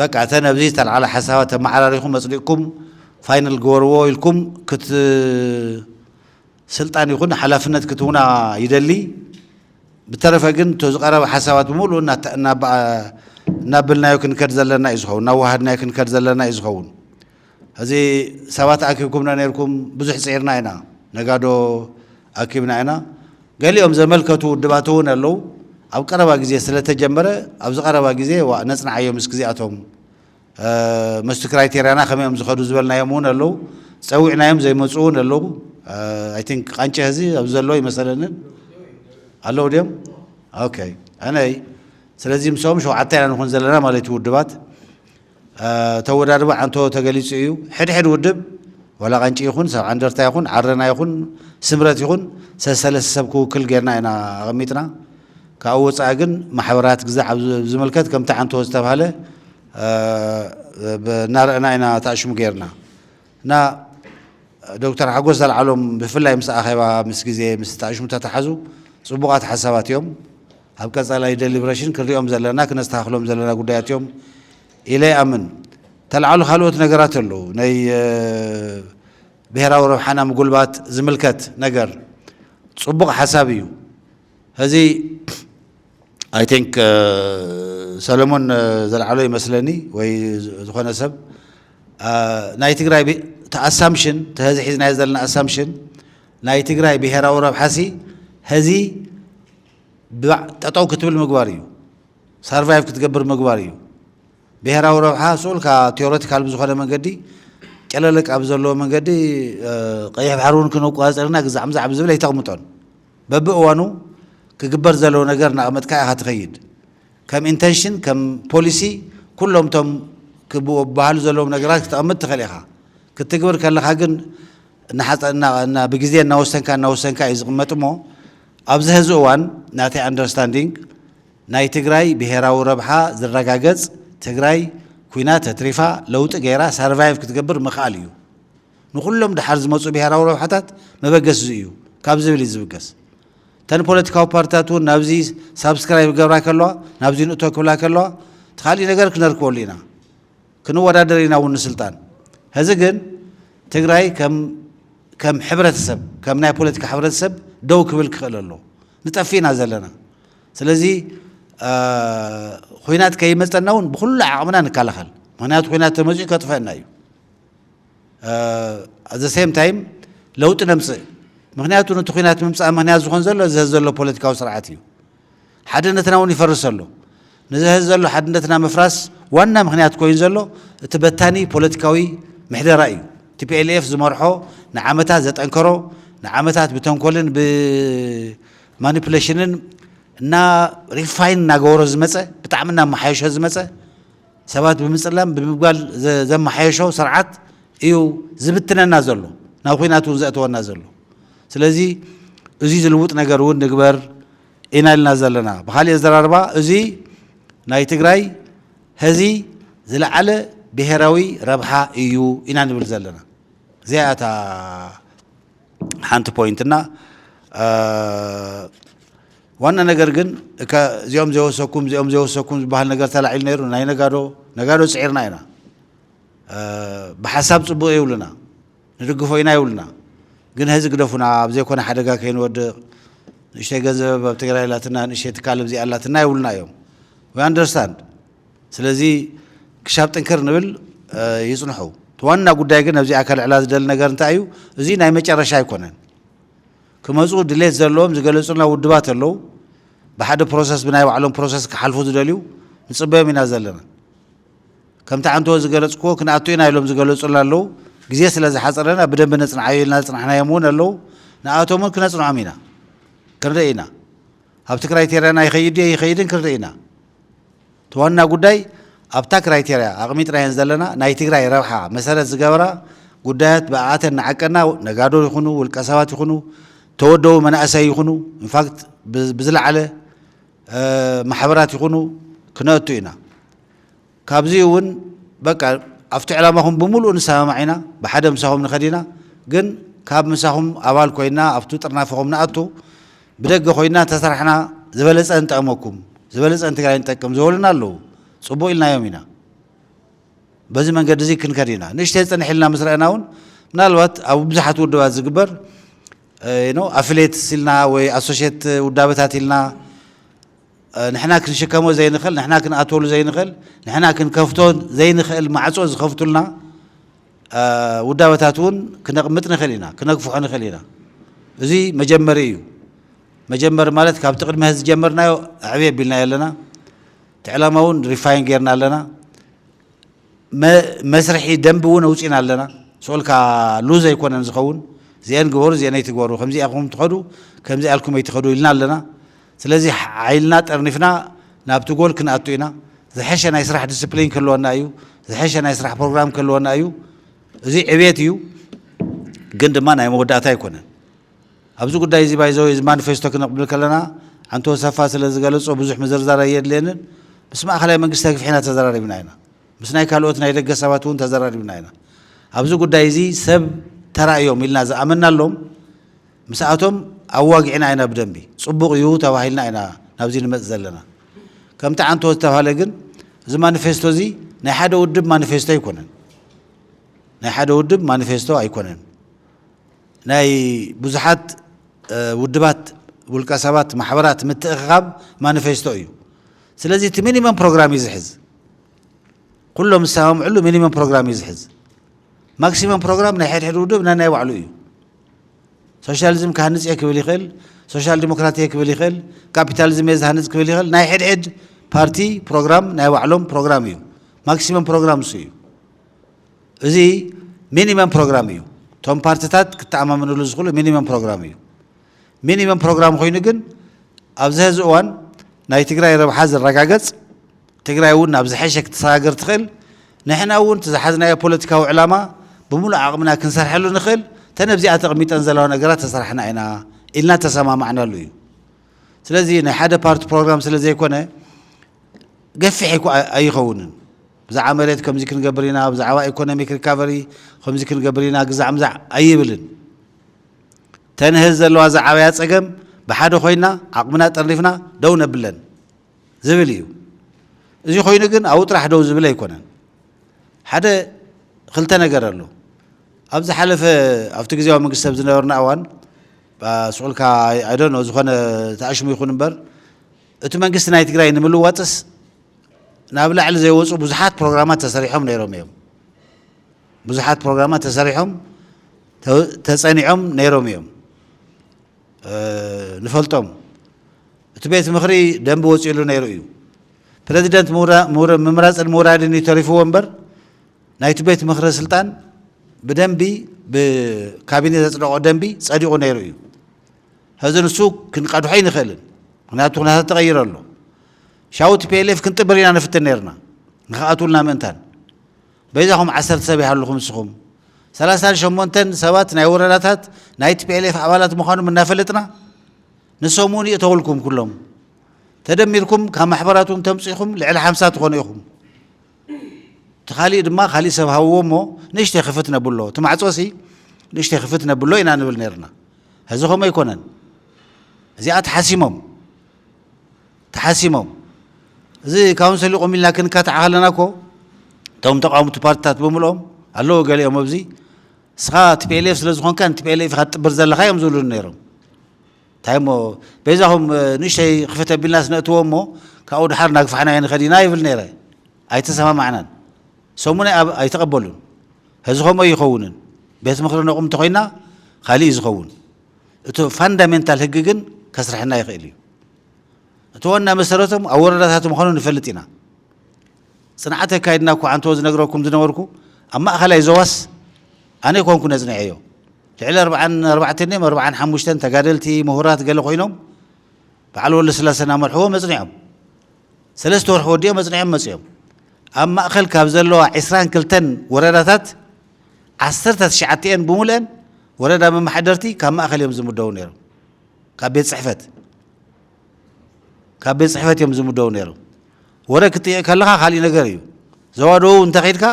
በቃ እተን ኣብዚ ዝተልዓላ ሓሳባት ተመዓራሪኹም ኣጽዲቕኩም ፋይናል ግበርዎ ኢልኩም ክት ስልጣን ይኹን ሓላፍነት ክትውና ይደሊ። ብተረፈ ግን እቶ ዝቐረበ ሓሳባት ብምሉኡ እናበልናዮ ክንከድ ዘለና እዩ ዝኸውን፣ እናዋሃድናዮ ክንከድ ዘለና እዩ ዝኸውን። እዚ ሰባት ኣኪብኩምና ነርኩም ብዙሕ ፅዒርና ኢና፣ ነጋዶ ኣኪብና ኢና። ገሊኦም ዘመልከቱ ውድባት እውን ኣለው። ኣብ ቀረባ ግዜ ስለተጀመረ ኣብዚ ቀረባ ግዜ ዋእ ነፅንዓዮ ምስኪ እዚኣቶም መስቲ ክራይቴርያና ከመይ እዮም ዝኸዱ ዝበልናዮም እውን ኣለዉ ፀዊዕናዮም ዘይመፁ እውን ኣለዉ ኣይ ቲንክ ቃንጨ ህዚ ኣብዚ ዘለዎ ይመሰለንን ኣለዉ ድዮም ኦኬ ኣነይ ስለዚ ምስኦም ሸውዓተ ኢና ንኹን ዘለና ማለት እዩ ውድባት ተወዳድባ ዓንቶ ተገሊፁ እዩ ሕድሕድ ውድብ ዋላ ቃንጭ ይኹን ሰብ ዓንደርታ ይኹን ዓረና ይኹን ስምረት ይኹን ሰሰለስተ ሰብ ክውክል ጌርና ኢና ኣቐሚጥና ካብኡ ወፃኢ ግን ማሕበራት ግዛዕ ኣብ ዝምልከት ከምቲ ዓንተቦ ዝተብሃለ እናረእና ኢና ተኣሽሙ ገይርና እና ዶክተር ሓጎስ ዘልዓሎም ብፍላይ ምስ ኣኼባ ምስ ግዜ ምስ ተኣሽሙ ተተሓዙ ፅቡቓት ሓሳባት እዮም ኣብ ቀፃላይ ደሊብሬሽን ክንሪኦም ዘለና ክነስተኻኽሎም ዘለና ጉዳያት እዮም ኢለ ይኣምን ተልዓሉ ካልኦት ነገራት ኣለዉ ናይ ብሔራዊ ረብሓና ምጉልባት ዝምልከት ነገር ፅቡቕ ሓሳብ እዩ ሀዚ ኣይ ቲንክ ሰለሞን ዘልዓሎ ይመስለኒ ወይ ዝኾነ ሰብ ናይ ትግራይ ኣሳምሽን ተሀዚ ሒዝናዮ ዘለና ኣሳምሽን ናይ ትግራይ ብሄራዊ ረብሓሲ ሀዚ ጠጠው ክትብል ምግባር እዩ ሳርቫይቭ ክትገብር ምግባር እዩ ብሄራዊ ረብሓ ስኡልካ ቴዎሬቲካል ብዝኾነ መንገዲ ጨለለቅ ኣብ ዘለዎ መንገዲ ቀይሕ ባሕሪ እውን ክነቋፅርና ግዛዕምዛዕ ብዝብል ኣይተቕምጦን በብእዋኑ ክግበር ዘለዎ ነገር እናቐመጥካ ኢኻ ትኸይድ። ከም ኢንተንሽን፣ ከም ፖሊሲ ኩሎም እቶም ክበሃሉ ዘለዎም ነገራት ክተቐምጥ ትኽእል ኢኻ። ክትግብር ከለኻ ግን ብግዜ እናወሰንካ እናወሰንካ እዩ ዝቕመጥ እሞ ኣብዚ ሀዚ እዋን ናተይ ኣንደርስታንዲንግ ናይ ትግራይ ብሄራዊ ረብሓ ዝረጋገፅ ትግራይ ኩይና ተትሪፋ ለውጢ ገይራ ሳርቫይቭ ክትገብር ምኽኣል እዩ። ንኹሎም ደሓር ዝመጹ ብሄራዊ ረብሓታት መበገሲ እዚ እዩ ካብ ዝብል እዩ ዝብገስ። እተን ፖለቲካዊ ፓርቲታት እውን ናብዚ ሳብስክራይብ ክገብራ ከለዋ፣ ናብዚ ንእቶ ክብላ ከለዋ እቲ ካሊእ ነገር ክነርክበሉ ኢና። ክንወዳደር ኢና እውን ንስልጣን። ሀዚ ግን ትግራይ ከም ከም ሕብረተሰብ ከም ናይ ፖለቲካ ሕብረተሰብ ደው ክብል ክኽእል ኣለዎ። ንጠፍእ ኢና ዘለና። ስለዚ ኹናት ከይመፀና እውን ብኹሉ ዓቕምና ንከላኸል። ምክንያቱ ኹናት ተመፂኡ ከጥፈእና እዩ። ኣት ዘ ሴም ታይም ለውጢ ነምፅእ ምክንያቱ ነቲ ኩናት ምምፃእ ምክንያት ዝኾን ዘሎ እዚ ህዚ ዘሎ ፖለቲካዊ ስርዓት እዩ ሓድነትና እውን ይፈርስ ኣሎ ነዚ ህዚ ዘሎ ሓድነትና ምፍራስ ዋና ምክንያት ኮይኑ ዘሎ እቲ በታኒ ፖለቲካዊ ምሕደራ እዩ ቲፒኤልኤፍ ዝመርሖ ንዓመታት ዘጠንከሮ ንዓመታት ብተንኮልን ብማኒፕሌሽንን እና ሪፋይን እናገበሮ ዝመፀ ብጣዕሚ እናመሓየሾ ዝመፀ ሰባት ብምጽላም ብምብጋል ዘማሓየሾ ስርዓት እዩ ዝብትነና ዘሎ ናብ ኹናት እውን ዘእተወና ዘሎ ስለዚ እዙይ ዝልውጥ ነገር እውን ንግበር ኢና ኢልና ዘለና ብካሊእ ኣዘራርባ እዙይ ናይ ትግራይ ሀዚ ዝለዓለ ብሄራዊ ረብሓ እዩ ኢና ንብል ዘለና እዚኣ እያ እታ ሓንቲ ፖይንት እና ዋና ነገር ግን እካ እዚኦም ዘይወሰኩም እዚኦም ዘይወሰኩም ዝበሃል ነገር ተላዒሉ ነይሩ ናይ ነጋዶ ነጋዶ ፅዒርና ኢና ብሓሳብ ፅቡቅ ይብሉና ንድግፎ ኢና ይብሉና ግን ሀዚ ግደፉና ኣብ ዘይኮነ ሓደጋ ከይንወድቅ ንእሽተይ ገንዘብ ኣብ ትግራይ ኣላትና ንእሽተይ ትካል ኣብዚ ኣላትና ይብሉና እዮም ዊ ኣንደርስታንድ ስለዚ ክሻብ ጥንክር ንብል ይፅንሑ እቲ ዋና ጉዳይ ግን ኣብዚኣ ከልዕላ ዝደሊ ነገር እንታይ እዩ እዚ ናይ መጨረሻ ኣይኮነን ክመጹ ድሌት ዘለዎም ዝገለጹልና ውድባት ኣለው ብሓደ ፕሮሰስ ብናይ ባዕሎም ፕሮሰስ ክሓልፉ ዝደልዩ ንጽበዮም ኢና ዘለና ከምቲ ዓንተወ ዝገለጽክዎ ክንኣቱ ኢና ኢሎም ዝገለጹልና ኣለው ግዜ ስለ ዝሓጸረና ብደንቢ ነጽንዓዮ ኢልና ዘጽናሕናዮም እውን ኣለው ንኣቶም እውን ክነጽንዖም ኢና ክንርኢ ኢና ኣብቲ ክራይቴርያና ይኸይድ ድዩ ኣይኸይድን ክንርኢ ኢና። እቲ ዋና ጉዳይ ኣብታ ክራይቴርያ ኣቕሚጥናየን ዘለና ናይ ትግራይ ረብሓ መሰረት ዝገበራ ጉዳያት ብኣኣተን ንዓቀና ነጋዶ ይኹኑ ውልቀ ሰባት ይኹኑ ተወደቡ መናእሰይ ይኹኑ ኢንፋክት ብዝለዓለ ማሕበራት ይኹኑ ክነእቱ ኢና። ካብዚ እውን በቃ ኣብቲ ዕላማኹም ብምሉኡ ንሰማማዕ ኢና፣ ብሓደ ምሳኹም ንኸድ ኢና፣ ግን ካብ ምሳኹም ኣባል ኮይና ኣብቱ ጥርናፈኹም ንኣቱ፣ ብደገ ኮይና እንተሰራሕና ዝበለፀ ንጠቕመኩም፣ ዝበለፀ ንትግራይ ንጠቅም ዝበሉና ኣለዉ። ፅቡቕ ኢልናዮም ኢና። በዚ መንገዲ እዚ ክንከድ ኢና። ንእሽተይ ፅንሕ ኢልና ምስ ረኣና እውን ምናልባት ኣብ ብዙሓት ውድባት ዝግበር ኣፍሌት ኢልና ወይ ኣሶሼት ውዳበታት ኢልና ንሕና ክንሽከሞ ዘይንኽእል፣ ንሕና ክንኣትወሉ ዘይንኽእል፣ ንሕና ክንከፍቶ ዘይንኽእል ማዕጾ ዝኸፍቱልና ውዳበታት እውን ክነቕምጥ ንኽእል ኢና፣ ክነግፍሖ ንኽእል ኢና። እዚ መጀመሪ እዩ። መጀመሪ ማለት ካብቲ ቅድሚ ሐዚ ዝጀመርናዮ ኣዕብይ ኣቢልናዮ ኣለና። እቲ ዕላማ እውን ሪፋይን ጌርና ኣለና። መስርሒ ደንቢ እውን ኣውፂና ኣለና። ስኦልካ ሉዝ ኣይኮነን ዝኸውን። እዚኤን ግበሩ፣ እዚኤን ኣይትግበሩ፣ ከምዚ ኢኹም ትኸዱ፣ ከምዚ ኣልኩም ኣይትኸዱ ኢልና ኣለና። ስለዚ ሓይልና ጠርኒፍና ናብቲ ጎል ክንኣቱ ኢና። ዝሐሸ ናይ ስራሕ ዲስፕሊን ክህልወና እዩ። ዝሐሸ ናይ ስራሕ ፕሮግራም ክህልወና እዩ። እዚ ዕቤት እዩ። ግን ድማ ናይ መወዳእታ ኣይኮነን። ኣብዚ ጉዳይ እዚ ባይዘወይ እዚ ማኒፌስቶ ክንብል ከለና ኣንቶ ሰፋ ስለ ዝገለጾ ብዙሕ ምዝርዛር ኣየድልየንን። ምስ ማእኸላይ መንግስቲ ኣግፊሕና ተዘራሪብና ኢና። ምስ ናይ ካልኦት ናይ ደገ ሰባት እውን ተዘራሪብና ኢና። ኣብዚ ጉዳይ እዚ ሰብ ተራ እዮም ኢልና ዝኣመናሎም ምስኣቶም ኣዋጊዕና ኢና ብደንቢ፣ ጽቡቕ እዩ ተባሂልና ኢና ናብዚ ንመጽእ ዘለና። ከምቲ ዓንተቦ ዝተባህለ ግን እዚ ማኒፌስቶዚ ናይ ሓደ ውድብ ማኒፌስቶ ኣይኮነን። ናይ ሓደ ውድብ ማኒፌስቶ ኣይኮነን። ናይ ብዙሓት ውድባት፣ ውልቀ ሰባት፣ ማሕበራት ምትእኽኻብ ማኒፌስቶ እዩ። ስለዚ እቲ ሚኒመም ፕሮግራም እዩ ዝሕዝ። ኩሎም ዝሰማምዕሉ ሚኒመም ፕሮግራም እዩ ዝሕዝ። ማክሲመም ፕሮግራም ናይ ሕድሕድ ውድብ ናይ ናይ ባዕሉ እዩ። ሶሻሊዝም ክሃንጽ እየ ክብል ይኽእል፣ ሶሻል ዲሞክራት እየ ክብል ይኽእል፣ ካፒታሊዝም እየ ዝሃንጽ ክብል ይኽእል። ናይ ሕድሕድ ፓርቲ ፕሮግራም ናይ ባዕሎም ፕሮግራም እዩ። ማክሲመም ፕሮግራም እሱ እዩ። እዚ ሚኒመም ፕሮግራም እዩ። እቶም ፓርትታት ክተኣማመንሉ ዝኽእሉ ሚኒመም ፕሮግራም እዩ። ሚኒመም ፕሮግራም ኮይኑ ግን ኣብዚ ሕዚ እዋን ናይ ትግራይ ረብሓ ዝረጋገጽ ትግራይ እውን ናብ ዝሐሸ ክትሰጋገር ትኽእል፣ ንሕና እውን እቲ ዝሓዝናዮ ፖለቲካዊ ዕላማ ብሙሉእ ዓቕምና ክንሰርሐሉ ንኽእል እተን ኣብዚኣ ተቐሚጠን ዘለዋ ነገራት ተሰራሕና ኢና ኢልና ዝተሰማማዕናሉ እዩ። ስለዚ ናይ ሓደ ፓርቲ ፕሮግራም ስለዘይኮነ ገፊሕ ኣይኮ- ኣይኸውንን። ብዛዕባ መሬት ከምዚ ክንገብር ኢና፣ ብዛዕባ ኢኮኖሚክ ሪካቨሪ ከምዚ ክንገብር ኢና ግዛዕ ምዛዕ ኣይብልን። ተን ሐዚ ዘለዋ ዝዓበያ ፀገም ብሓደ ኮይና ዓቕምና ጠርኒፍና ደው ነብለን። ዝብል እዩ። እዚ ኮይኑ ግን ኣብኡ ጥራሕ ደው ዝብል ኣይኮነን። ሓደ ክልተ ነገር ኣሎ። ኣብ ዝሓለፈ ኣብቲ ግዜያዊ መንግስቲ ኣብ ዝነበርና እዋን ስዑልካ ኣይዶኖ ዝኾነ ተኣሽሙ ይኹን እምበር እቲ መንግስቲ ናይ ትግራይ ንምልዋጥስ ናብ ላዕሊ ዘይወፁ ብዙሓት ፕሮግራማት ተሰሪሖም ነይሮም እዮም። ብዙሓት ፕሮግራማት ተሰሪሖም ተፀኒዖም ነይሮም እዮም። ንፈልጦም እቲ ቤት ምኽሪ ደንቢ ወፂእሉ ነይሩ እዩ። ፕረዚደንት ምምራፅን ምውራድን እዩ ተሪፍዎ እምበር ናይቲ ቤት ምኽሪ ስልጣን ብደንቢ ብካቢኔ ዘፅደቖ ደንቢ ፀዲቑ ነይሩ እዩ። ሕዚ ንሱ ክንቀድሖ ኣይንኽእልን፣ ምክንያቱ ኩነታት ተቐይሩ ኣሎ። ሻው ቲፒኤልኤፍ ክንጥብር ኢና ንፍትን ነይርና ንክኣትውልና ምእንታን። በይዛኹም ዓሰርተ ሰብ ይሃልኹም እስኹም ሰላሳን ሸሞንተን ሰባት ናይ ወረዳታት ናይ ቲፒኤልኤፍ ኣባላት ምዃኖም እናፈለጥና ንሶም እውን ይእተውልኩም ኩሎም ተደሚርኩም ካብ ማሕበራት እውን ተምፅኢኹም ልዕሊ ሓምሳ ትኾኑ ኢኹም እቲ ካሊእ ድማ ካሊእ ሰብ ሃብዎ እሞ ንእሽተይ ክፍት ነብሎ እቲ ማዕፆሲ ንእሽተይ ክፍት ነብሎ ኢና ንብል ነርና ሕዚ ከምኡ ኣይኮነን እዚኣ ተሓሲሞም ተሓሲሞም እዚ ካውንሰል ይቑም ኢልና ክንካታዕ ከለና እኮ እቶም ተቃወምቲ ፓርቲታት ብምልኦም ኣለዎ ገሊኦም ኣብዚ እስኻ ቲፒኤልኤፍ ስለ ዝኾንካ ንቲፒኤልኤፍ ኢኻ ትጥብር ዘለኻ እዮም ዝብሉን ነይሮም እንታይ እሞ በይዛኹም ንእሽተይ ክፈት ኣቢልናስ ነእትዎ እሞ ካብኡ ድሓር ናግፋሕናዮ ንኸድ ኢና ይብል ነይረ ኣይተሰማማዕናን ሰሙነ ኣብ ኣይተቐበሉን ሕዚ ከምኡ ኣይኸውንን ቤት ምኽሪ ነቑም እንተኾይና ካልእ እዩ ዝኸውን እቲ ፋንዳሜንታል ህግ ግን ከስርሐና ይኽእል እዩ እቲ ዋና መሰረቶም ኣብ ወረዳታት ምዃኑ ንፈልጥ ኢና። ፅንዓት ኣካይድና እኳ ኣንተወ ዝነግረኩም ዝነበርኩ ኣብ ማእኸላይ ዞባስ ኣነ ኣይኮንኩን ኣፅኒዐዮ። ልዕሊ ኣርብዓን ኣርባዕተን ድዮም ኣርብዓን ሓሙሽተን ተጋደልቲ፣ ምሁራት ገለ ኮይኖም በዓል ወልደስላሰ እናመርሕዎም ኣፅኒዖም። ሰለስተ ወርሒ ወዲኦም ኣፅኒዖም መፂኦም። ኣብ ማእኸል ካብ ዘለዋ ዕስራን ክልተን ወረዳታት ዓሰርተ ትሽዓተኤን ብሙሉኤን ወረዳ መማሓደርቲ ካብ ማእኸል እዮም ዝምደቡ ነይሮም። ካብ ቤት ጽሕፈት ካብ ቤት ጽሕፈት እዮም ዝምደቡ ነይሮም። ወረ ክትጥይቕ ከለኻ ካሊእ ነገር እዩ። ዞባ ደቡብ እንተኺድካ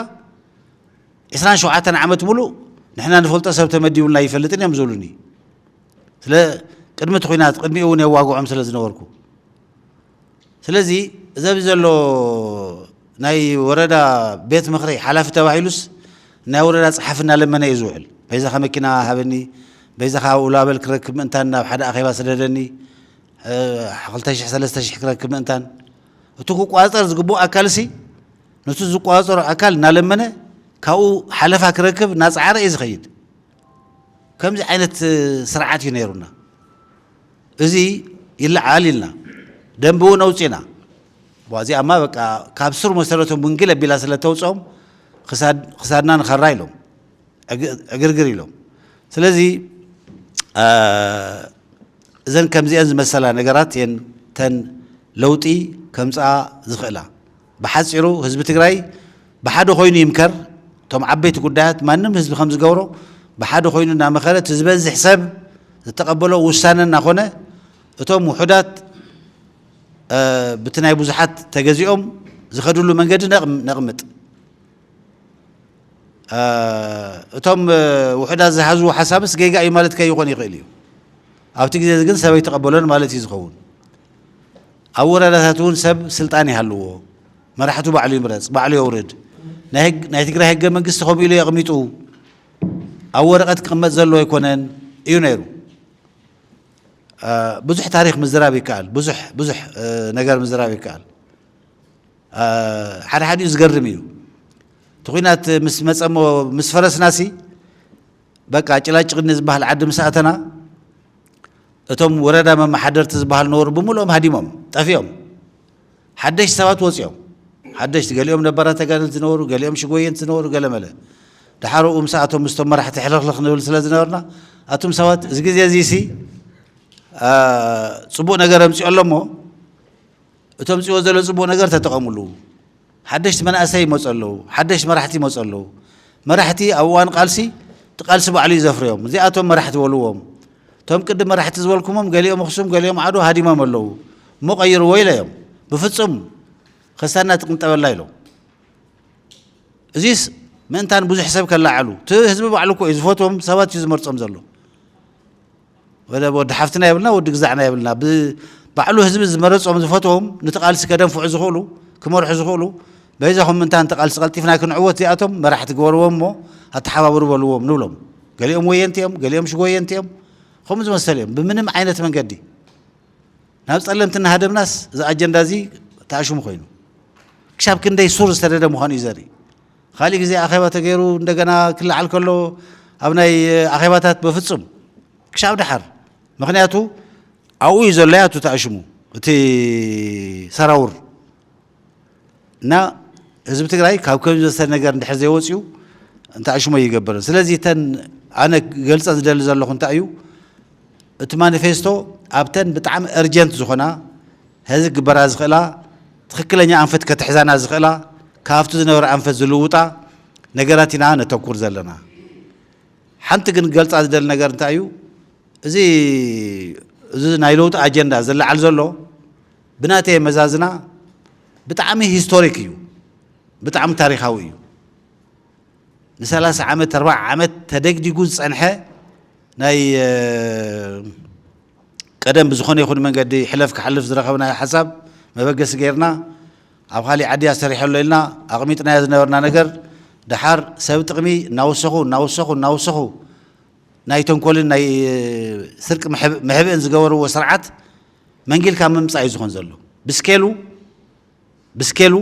ዕስራን ሸውዓተን ዓመት ሙሉእ ንሕና ንፈልጦ ሰብ ተመዲቡልና ይፈልጥን እዮም ዝብሉኒ ስለ ቅድሚ እቲ ኩናት ቅድሚኡ እውን የዋግዖም ስለ ዝነበርኩ ስለዚ እዚ ኣብዚ ዘሎ ናይ ወረዳ ቤት ምኽሪ ሓላፊ ተባሂሉስ ናይ ወረዳ ጸሓፊ እናለመነ እዩ ዝውዕል። በይዛኻ መኪና ሃበኒ፣ በይዛኻ ኣብኡ ላበል ክረክብ ምእንታን ናብ ሓደ ኣኼባ ስደደኒ፣ ክልተ ሽሕ ሰለስተ ሽሕ ክረክብ ምእንታን እቲ ክቋጸር ዝግብኦ ኣካልሲ ነቲ ዝቋጸሮ ኣካል እናለመነ ካብኡ ሓለፋ ክረክብ እናጸዓረ እዩ ዝኸይድ። ከምዚ ዓይነት ስርዓት እዩ ነይሩና። እዚ ይለዓል ኢልና ደንቢ እውን ኣውፂእና እዚኣማ በቃ ካብ ስር መሰረቱ ምንግል ኣቢላ ስለ እተውፅኦም ክሳድና ንኸራ ኢሎም ዕግርግር ኢሎም ስለዚ እዘን ከምዚአን ዝመሰላ ነገራት እየን ተን ለውጢ ከምፅኣ ዝኽእላ። ብሓፂሩ ህዝቢ ትግራይ ብሓደ ኮይኑ ይምከር እቶም ዓበይቲ ጉዳያት ማንም ህዝቢ ከምዝገብሮ ብሓደ ኮይኑ እናመኸረ እቲ ዝበዝሕ ሰብ ዝተቐበሎ ውሳነ እናኾነ እቶም ውሑዳት ብቲ ናይ ብዙሓት ተገዚኦም ዝኸድሉ መንገዲ ነቕምጥ እቶም ውሑዳት ዝሓዝዎ ሓሳብስ ጌጋ እዩ ማለት ከይኾን ይኽእል እዩ ኣብቲ ግዜ ግን ሰበይ ተቐበሎን ማለት እዩ ዝኸውን ኣብ ወረዳታት እውን ሰብ ስልጣን ይሃልዎ መራሕቱ ባዕሉ ይምረፅ ባዕሉ የውርድ ናይ ትግራይ ህገ መንግስቲ ከምኡ ኢሉ የቕሚጡ ኣብ ወረቐት ክቕመጥ ዘለዎ ኣይኮነን እዩ ነይሩ ብዙሕ ታሪክ ምዝራብ ይከኣል ብዙሕ ብዙሕ ነገር ምዝራብ ይከኣል ሓደ ሓዲኡ ዝገርም እዩ እቲ ኩናት ምስ መፀሞ ምስ ፈረስናሲ በቃ ጭላጭቅኒ ዝበሃል ዓዲ ምስ ኣተና እቶም ወረዳ መመሓደርቲ ዝበሃል ነበሩ ብምልኦም ሃዲሞም ጠፊኦም ሓደሽቲ ሰባት ወፂኦም ሓደሽቲ ገሊኦም ነባራት ተጋደልቲ ዝነበሩ ገሊኦም ሽጎየንቲ ዝነበሩ ገለመለ ድሓር ኡ ምስኣቶም ምስቶም መራሕቲ ሕልኽልኽ ንብል ስለ ዝነበርና ኣቱም ሰባት እዚ ግዜ እዚ ሲ ፅቡቅ ነገር ኣምፅኦ ኣሎ እሞ እቶም ፅዎ ዘሎ ፅቡቅ ነገር ተጠቐምሉ ሓደሽቲ መናእሰይ ይመፁ ኣለዉ፣ ሓደሽቲ መራሕቲ ይመፁ ኣለዉ። መራሕቲ ኣብ እዋን ቃልሲ እቲ ቃልሲ ባዕሉ እዩ ዘፍርዮም። እዚኣቶም መራሕቲ በልዎም። እቶም ቅድም መራሕቲ ዝበልኩምም ገሊኦም ኣኽሱም ገሊኦም ዓድዋ ሃዲሞም ኣለዉ እሞ ቀይርዎ ኢለዮም። ብፍፁም ከሳድና ትቅንጠበላ ኢሎም። እዚስ ምእንታን ብዙሕ ሰብ ከለዓዕሉ እቲ ህዝቢ ባዕሉ እኮ እዩ ዝፈትዎም ሰባት እዩ ዝመርፆም ዘሎ። ወደ ወዲ ሓፍትና የብልና ወዲ ግዛዕና የብልና ብባዕሉ ህዝቢ ዝመረፆም ዝፈትዎም ንቲ ቃልሲ ከደንፍዑ ዝኽእሉ ክመርሑ ዝኽእሉ በይዛኹም ምንታ ንቲ ቃልሲ ቀልጢፍና ክንዕወት እዚኣቶም መራሕቲ ግበርዎም እሞ ኣተሓባብሩ በልዎም ንብሎም ገሊኦም ወየንቲ እዮም ገሊኦም ሽጎየንቲ እዮም ከምኡ ዝመሰለ እዮም ብምንም ዓይነት መንገዲ ናብ ጸለምቲ እናሃደምናስ እዚ ኣጀንዳ እዚ ተኣሽሙ ኮይኑ ክሻብ ክንደይ ሱር ዝተደደ ምዃኑ እዩ ዘርኢ ኻሊእ ግዜ ኣኼባ ተገይሩ እንደገና ክለዓል ከሎ ኣብ ናይ ኣኼባታት በፍጹም ክሻብ ደሓር ምክንያቱ ኣብኡ እዩ ዘሎ ያቱ ተኣሽሙ እቲ ሰራውር እና ህዝቢ ትግራይ ካብ ከም ዘሰ ነገር እንድሕር ዘይወፅኡ እንተኣሽሞ ይገብርን ስለዚ እተን ኣነ ገልፀን ዝደሊ ዘለኹ እንታይ እዩ እቲ ማኒፌስቶ ኣብተን ብጣዕሚ እርጀንት ዝኾና ሐዚ ክግበራ ዝኽእላ ትኽክለኛ ኣንፈት ከትሕዛና ዝኽእላ ካብቲ ዝነበረ ኣንፈት ዝልውጣ ነገራት ኢና ነተኩር ዘለና። ሓንቲ ግን ክገልፃ ዝደሊ ነገር እንታይ እዩ እዚ እዚ ናይ ለውጢ ኣጀንዳ ዝለዓል ዘሎ ብናተይ ኣመዛዝና ብጣዕሚ ሂስቶሪክ እዩ፣ ብጣዕሚ ታሪኻዊ እዩ። ንሰላሳ ዓመት ኣርባዓ ዓመት ተደግዲጉ ዝፀንሐ ናይ ቀደም ብዝኾነ ይኹን መንገዲ ሕለፍ ክሓልፍ ዝረኸብናዮ ሓሳብ መበገሲ ገይርና ኣብ ኻሊእ ዓዲ እያ ሰሪሐሎ ኢልና ኣቕሚጥናዮ ዝነበርና ነገር ደሓር ሰብ ጥቕሚ እናወሰኹ እናወሰኹ እናወሰኹ ናይ ተንኮልን ናይ ስርቂ መሕብእን ዝገበርዎ ስርዓት መንጊልካ ምምፃእ እዩ ዝኾን ዘሎ ብስኬሉ ብስኬሉ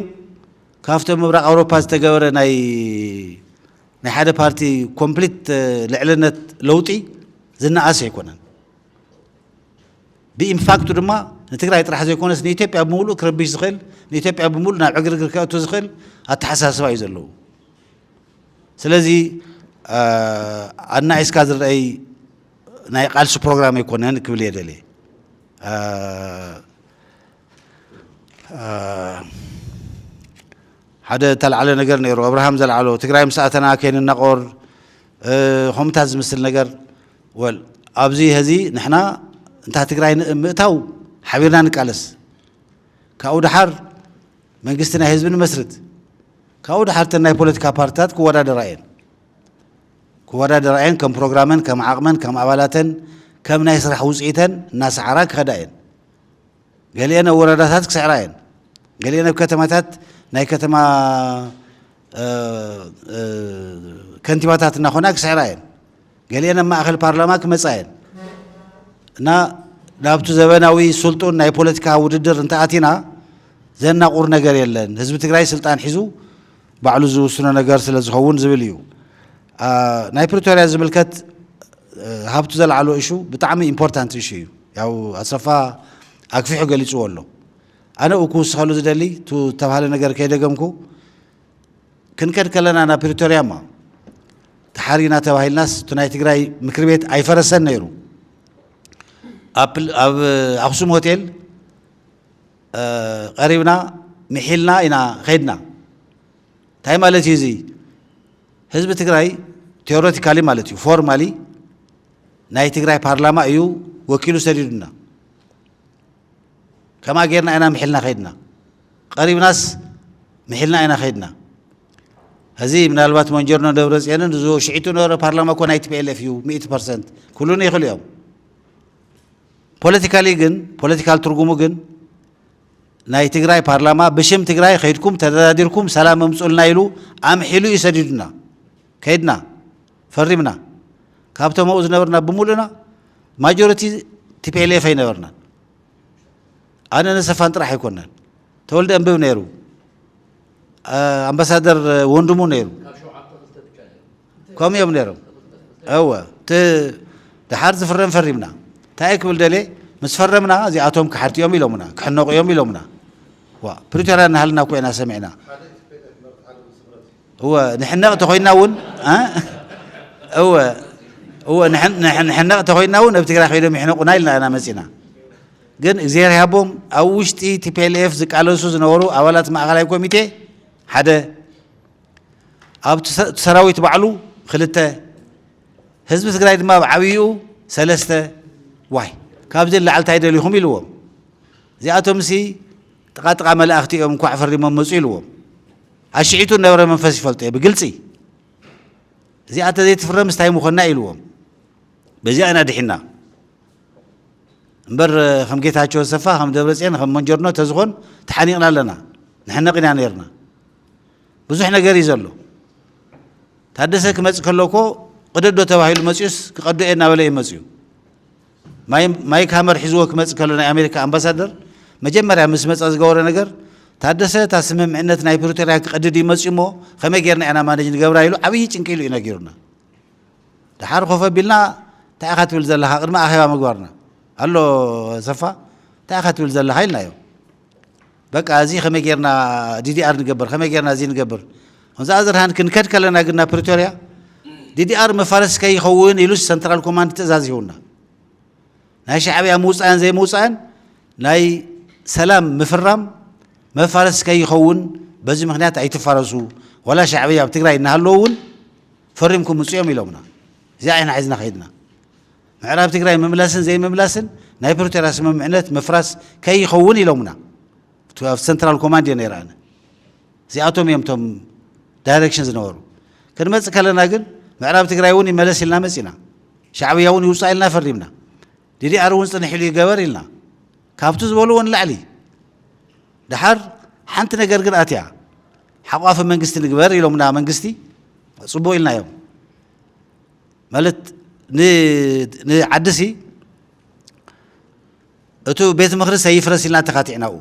ካብቶም ምብራቕ ኣውሮፓ ዝተገበረ ናይ ናይ ሓደ ፓርቲ ኮምፕሊት ልዕልነት ለውጢ ዝነኣስ ኣይኮነን። ብኢምፓክቱ ድማ ንትግራይ ጥራሕ ዘይኮነስ ንኢትዮጵያ ብምሉእ ክረብሽ ዝኽእል ንኢትዮጵያ ብምሉእ ናብ ዕግርግር ከእቱ ዝኽእል ኣተሓሳስባ እዩ ዘለዉ። ስለዚ ኣናኢስካ ዝረኣይ ናይ ቃልሲ ፕሮግራም ኣይኮነን ክብል እየ ደልየ። ሓደ እተላዕለ ነገር ነይሩ ኣብርሃም ዘልዓሎ ትግራይ ምስ ኣተና ከይንናቆር ከምኡታት ዝምስል ነገር ወል ኣብዚ ሀዚ ንሕና እንታ ትግራይ ምእታው ሓቢርና ንቃለስ ካብኡ ድሓር መንግስቲ ናይ ህዝቢ ንመስርት ካብኡ ድሓር እተን ናይ ፖለቲካ ፓርትታት ክወዳደራ እየን ክወዳደራ እየን ከም ፕሮግራመን ከም ዓቕመን ከም ኣባላተን ከም ናይ ስራሕ ውፅኢተን እናሰዓራ ክኸዳ እየን ገሊኤን ኣብ ወረዳታት ክስዕራ እየን፣ ገሊኤን ኣብ ከተማታት ናይ ከተማ ከንቲባታት እናኾና ክስዕራ እየን፣ ገሊኤን ኣብ ማእኸል ፓርላማ ክመፃ እየን እና ናብቲ ዘበናዊ ስልጡን ናይ ፖለቲካ ውድድር እንተኣቲና ዘናቑር ነገር የለን። ህዝቢ ትግራይ ስልጣን ሒዙ ባዕሉ ዝውስኖ ነገር ስለ ዝኸውን ዝብል እዩ። ናይ ፕሪቶርያ ዝምልከት ሃብቱ ዘልዓሎ እሹ ብጣዕሚ ኢምፖርታንት እሹ እዩ። ያው ኣሰፋ ኣግፊሑ ገሊፅዎ ኣሎ። ኣነ ኡ ክውስኸሉ ዝደሊ ቱ ዝተብሃለ ነገር ከይደገምኩ ክንከድ ከለና ናብ ፕሪቶርያ እማ ተሓሪና ተባሂልናስ እቲ ናይ ትግራይ ምክር ቤት ኣይፈረሰን ነይሩ ኣብ ኣክሱም ሆቴል ቀሪብና ምሒልና ኢና ከይድና። እንታይ ማለት እዩ እዚ? ህዝቢ ትግራይ ቴዎሬቲካሊ ማለት እዩ ፎርማሊ ናይ ትግራይ ፓርላማ እዩ ወኪሉ ሰዲዱና። ከምኣ ጌርና ኢና ምሒልና ከይድና። ቀሪብናስ ምሒልና ኢና ከይድና። እዚ ምናልባት መንጀርኖ ደብረ ፅዮንን እዚ ሽዒቱ ነበረ ፓርላማ እኮ ናይ ቲፒኤልኤፍ እዩ ሚእቲ ፐርሰንት ኩሉን ይኽእሉ እዮም ፖለቲካሊ ግን ፖለቲካል ትርጉሙ ግን ናይ ትግራይ ፓርላማ ብሽም ትግራይ ከይድኩም ተደራዲርኩም ሰላም እምፁልና ኢሉ ኣምሒሉ እዩ ሰዲዱና ከይድና ፈሪምና ካብቶም ኣብኡ ዝነበርና ብምሉእና ማጆሪቲ ቲፒኤልኤፍ ኣይነበርናን ኣነ ነሰፋን ጥራሕ ኣይኮናን ተወልደ እንብብ ነይሩ ኣምባሳደር ወንድሙ ነይሩ ከምኡ እዮም ነይሮም እወ እቲ ድሓር ዝፍረም ፈሪምና እንታይ እየ ክብል ደልየ ምስ ፈረምና እዚኣቶም ክሓድቲ እዮም ኢሎምና ክሕነቑ እዮም ኢሎምና ዋ ፕሪቶርያ እናሃልና እኮ ኢና ሰሚዕና እወ ንሕነቕ ተኾይንና እውን እወ እወ ንሕነቕ ተኾይንና እውን ኣብ ትግራይ ኮይኖም ይሕነቑና ኢልና ኢና መፂና ግን እግዚኣብሔር ያቦም ኣብ ውሽጢ ቲፒኤልኤፍ ዝቃለሱ ዝነበሩ ኣባላት ማእኸላይ ኮሚቴ ሓደ ኣብቲ ሰራዊት ባዕሉ ኽልተ ህዝቢ ትግራይ ድማ ኣብ ዓብይኡ ሰለስተ ዋይ ካብዚ ንላዕሊ እንታይ ደሊኹም ኢልዎም እዚኣቶም ሲ ጥቃ ጥቃ መላእኽቲ እዮም እንኳዕ ፈሪሞም መፁ ኢልዎም ኣሽዒቱ ነበረ መንፈስ ይፈልጦ እየ ብግልፂ እዚኣ ተዘይትፍረም ስታይ ምኾና ኢልዎም በዚኣ ኢና ድሒና እምበር ከም ጌታቸው ኣሰፋ ከም ደብረፅዮን ከም መንጀርኖ ተዝኾን ተሓኒቕና ኣለና ንሕነቕ ኢና ነርና ብዙሕ ነገር እዩ ዘሎ። ታደሰ ክመጽእ ከሎ እኮ ቅደዶ ተባሂሉ መጺኡስ ክቀዶ እየ እናበለ እዩ መጺኡ። ማይክ ሃመር ሒዝዎ ክመጽእ ከሎ ናይ ኣሜሪካ ኣምባሳደር መጀመርያ ምስ መጸ ዝገበሮ ነገር ታደሰ እታ ስምምዕነት ናይ ፕሪቶርያ ክቀድድ እዩ መጺኡ እሞ ከመይ ጌርና ኢና ማነጅ ንገብራ ኢሉ ዓብዪ ጭንቂ ኢሉ እዩ ነጊሩና። ድሓር ኮፍ ኣቢልና እንታይ ኢኻ ትብል ዘለኻ ቅድሚ ኣኼባ ምግባርና ኣሎ ሰፋ እንታይ ኢኻ ትብል ዘለኻ ኢልናዮ። በቃ እዚ ከመይ ጌርና ዲዲኣር ንገብር ከመይ ጌርና እዚ ንገብር ከምዛ ኣዘርሃን ክንከድ ከለና ግን ናብ ፕሪቶርያ ዲዲኣር መፋለሲ ከይኸውን ኢሉስ ሰንትራል ኮማንድ ትእዛዝ ይህውና ናይ ሻዕብያ ምውፃእን ዘይምውፃእን ናይ ሰላም ምፍራም መፋለሲ ከይኸውን በዚ ምክንያት ኣይትፋለሱ ወላ ሻዕብያ ኣብ ትግራይ እናሃለዉ እውን ፈሪምኩም ምፅኦም ኢሎምና እዚኣ ኢና ሒዝና ከይድና ምዕራብ ትግራይ ምምላስን ዘይምምላስን ናይ ፕሪቶርያ ስምምዕነት ምፍራስ ከይኸውን ኢሎሙና እቲ ኣብ ሰንትራል ኮማንድ እየ ነይረ ኣነ እዚኣቶም እዮም እቶም ዳይሬክሽን ዝነበሩ ክንመፅእ ከለና ግን ምዕራብ ትግራይ እውን ይመለስ ኢልና መፂና ሻዕብያ እውን ይውፃእ ኢልና ፈሪምና ዲዲኣር እውን ፅንሕ ኢሉ ይገበር ኢልና ካብቲ ዝበልዎ ንላዕሊ ድሓር ሓንቲ ነገር ግን ኣትያ ሓቋፊ መንግስቲ ንግበር ኢሎምና መንግስቲ ፅቡቅ ኢልና እዮም ማለት ን ንዓዲሲ እቱ ቤት ምክሪ ሰይፍረስ ኢልና ተካቲዕናኡ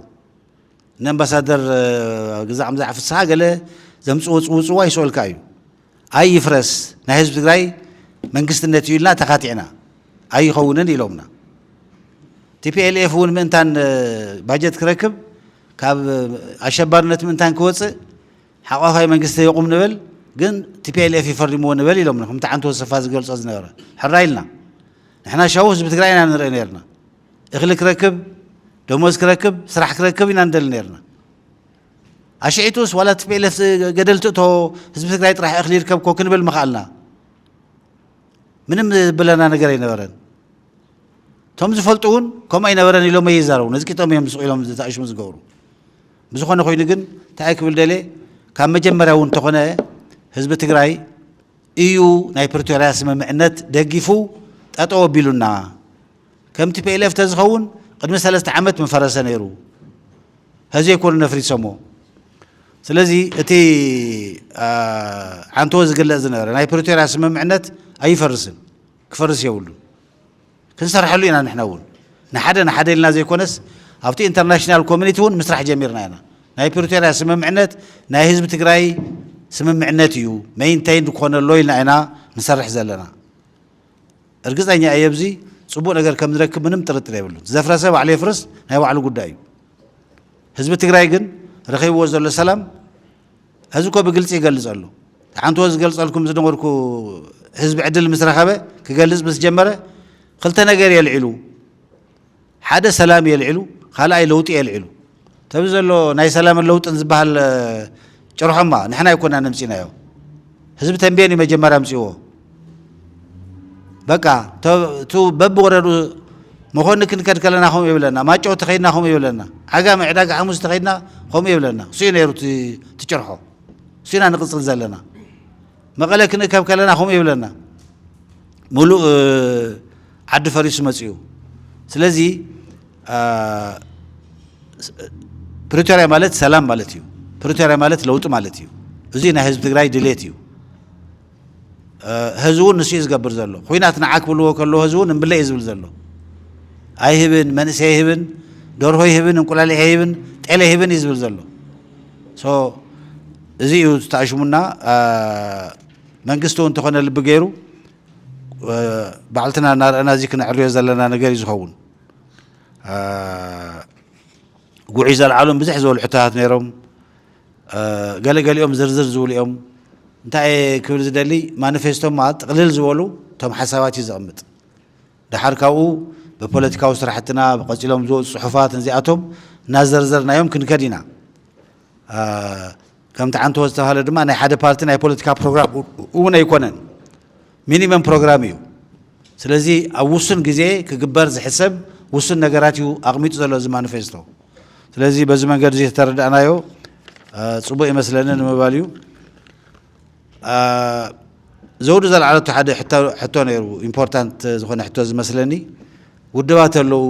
ንኣምባሳደር ግዛ ኣምዛዕ ፍስሓ ገለ ዘምፅዎ ፅውፅዋ ይስኦልካ እዩ ኣይ ይፍረስ ናይ ህዝቢ ትግራይ መንግስትነት እዩ ኢልና ተካቲዕና ኣይኸውንን ኢሎምና ቲፒኤልኤፍ እውን ምእንታን ባጀት ክረክብ ካብ ኣሸባርነት ምእንታን ክወፅእ ሓቋፋይ መንግስቲ ይቑም ንበል ግን ቲፒኤልኤፍ እዩ ፈሪምዎ ንበል ኢሎምና ከምቲ ዓንቶ ተሰፋ ዝገልጾ ዝነበረ ሕራይ ኢልና ንሕና ሻቡ ህዝቢ ትግራይ ኢና ንርኢ ነርና እኽሊ ክረክብ ደሞዝ ክረክብ ስራሕ ክረክብ ኢና ንደሊ ነርና ኣሽዒቱስ ዋላ ቲፒኤልኤፍ ገደል ትእቶ ህዝቢ ትግራይ ጥራሕ እኽሊ ይርከብ ኮ ክንብል ምኽኣልና ምንም ዝብለና ነገር ኣይነበረን እቶም ዝፈልጡ እውን ከምኡ ኣይነበረን ኢሎም ኣይዛረቡ ነዝቂጦም እዮም ዝስቑ ኢሎም ተኣሽሙ ዝገብሩ ብዝኾነ ኮይኑ ግን እንታይ ክብል ደልየ ካብ መጀመርያ እውን እንተኾነ ህዝቢ ትግራይ እዩ ናይ ፕሪቶርያ ስምምዕነት ደጊፉ ጠጠው ኣቢሉና ከም ቲፒኤልኤፍ ተዝኸውን ቅድሚ ሰለስተ ዓመት ምፈረሰ ነይሩ ሕዚ ኣይኮኑ ነፍሪሶሞ ስለዚ እቲ ዓንተዎ ዝግለጽ ዝነበረ ናይ ፕሪቶርያ ስምምዕነት ኣይፈርስን ክፈርስ የብሉን ክንሰርሐሉ ኢና ንሕና እውን ንሓደ ንሓደ ኢልና ዘይኮነስ ኣብቲ ኢንተርናሽናል ኮሚኒቲ እውን ምስራሕ ጀሚርና ኢና። ናይ ፕሪቶርያ ስምምዕነት ናይ ህዝቢ ትግራይ ስምምዕነት እዩ መይንተይን ክኾነ ኣሎ ኢልና ኢና ንሰርሕ ዘለና። እርግፀኛ እየ ኣብዚ ፅቡቅ ነገር ከም ንረክብ ምንም ጥርጥር የብሉን። ዝዘፍረሰ ባዕሉ የፍርስ ናይ ባዕሉ ጉዳይ እዩ። ህዝቢ ትግራይ ግን ረኺብዎ ዘሎ ሰላም ሐዚ እኮ ብግልፂ ይገልፅ ኣሉ ሓንትዎ ዝገልፀልኩም ዝነበርኩ ህዝቢ ዕድል ምስ ረኸበ ክገልፅ ምስ ጀመረ ክልተ ነገር የልዒሉ ሓደ ሰላም የልዒሉ ካልኣይ ለውጢ የልዒሉ ተብ ዘሎ ናይ ሰላምን ለውጥን ዝበሃል ጭርሖማ ንሕና ኣይኮና ነምፂናዮ ህዝቢ ተንቤን እዩ መጀመሪያ ኣምፅዎ በቃ እቱ በብወረዱ መኮኒ ክንከድ ከለና ከምኡ ይብለና ማጨው ተኸይድና ከምኡ ይብለና ዓጋመ ዕዳጋ ሓሙስ ተኸይድና ከምኡ ይብለና እሱዩ ነይሩ ትጭርሖ እሱና ንቕፅል ዘለና መቐለ ክንእከብ ከለና ከምኡ ይብለና ሙሉእ ዓዲ ፈሪሱ መፅኡ ስለዚ ፕሪቶሪያ ማለት ሰላም ማለት እዩ ፕሪቶሪያ ማለት ለውጢ ማለት እዩ እዙይ ናይ ህዝቢ ትግራይ ድሌት እዩ ሀዚ እውን ንሱ እዩ ዝገብር ዘሎ ኹናት ንዓ ክብልዎ ከለዎ ሀዚ እውን እምብለ እዩ ዝብል ዘሎ ኣይህብን መንእሰይ ኣይህብን ደርሆ ይህብን እንቁላሊሕ ኣይህብን ጤለ ይህብን እዩ ዝብል ዘሎ እዚ እዩ ዝተኣሽሙና መንግስቲ እውን እንተኾነ ልቢ ገይሩ ባዕልትና እናርአና እዚ ክነዕርዮ ዘለና ነገር እዩ ዝኸውን ጉዒ ዘለዓሎም ብዙሕ ዝበሉ ሕቶታት ነይሮም ገለ ገሊኦም ዝርዝር ዝብሉ እዮም። እንታይ እየ ክብል ዝደሊ ማኒፌስቶ ማለት ጥቕልል ዝበሉ እቶም ሓሳባት እዩ ዘቕምጥ። ደሓር ካብኡ ብፖለቲካዊ ስራሕትና ብቐፂሎም ዝወፁ ፅሑፋት ነዚኣቶም እናዘርዘርናዮም ክንከድ ኢና። ከምቲ ዓንተቦ ዝተብሃለ ድማ ናይ ሓደ ፓርቲ ናይ ፖለቲካ ፕሮግራም እውን ኣይኮነን። ሚኒመም ፕሮግራም እዩ። ስለዚ ኣብ ውሱን ግዜ ክግበር ዝሕሰብ ውሱን ነገራት እዩ ኣቕሚጡ ዘሎ እዚ ማኒፌስቶ። ስለዚ በዚ መንገድ እዚ ተተረዳእናዮ ፅቡቕ ይመስለኒ ንምባል እዩ። ዘውዱ ዘልዓለቶ ሓደ ሕቶ ነይሩ ኢምፖርታንት ዝኾነ ሕቶ ዝመስለኒ ውድባት ኣለዉ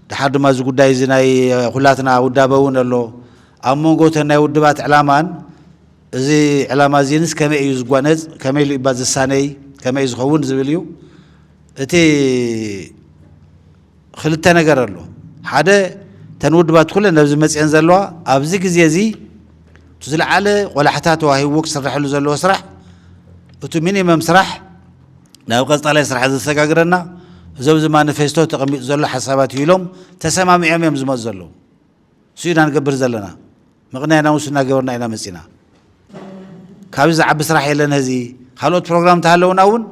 ድሓር ድማ እዚ ጉዳይ እዚ ናይ ኩላትና ውዳበ እውን ኣሎ ኣብ መንጎ እተን ናይ ውድባት ዕላማን እዚ ዕላማ እዚንስ ከመይ እዩ ዝጓነጽ፣ ከመይ ኢሉ እዩባ ዝሳነይ፣ ከመይ ዝኸውን ዝብል እዩ። እቲ ክልተ ነገር ኣሎ። ሓደ እተን ውድባት ኩለን ኣብዚ መጺኤን ዘለዋ ኣብዚ ግዜ እዚ እቲ ዝለዓለ ቆላሕታ ተዋሂብዎ ክስረሐሉ ዘለዎ ስራሕ እቲ ሚኒመም ስራሕ ናብ ቀጻላይ ስራሕ ዘሰጋግረና እዚ ኣብዚ ማኒፌስቶ ተቐሚጡ ዘሎ ሓሳባት እዩ ኢሎም ተሰማሚዖም እዮም ዝመጹ ዘለዉ። እሱ ኢና ንገብር ዘለና። ምቕናይ ኣናውንስ እናገበርና ኢና መፂና። ካብዚ ዝዓቢ ስራሕ የለን ሀዚ። ካልኦት ፕሮግራም እንተሃለውና እውን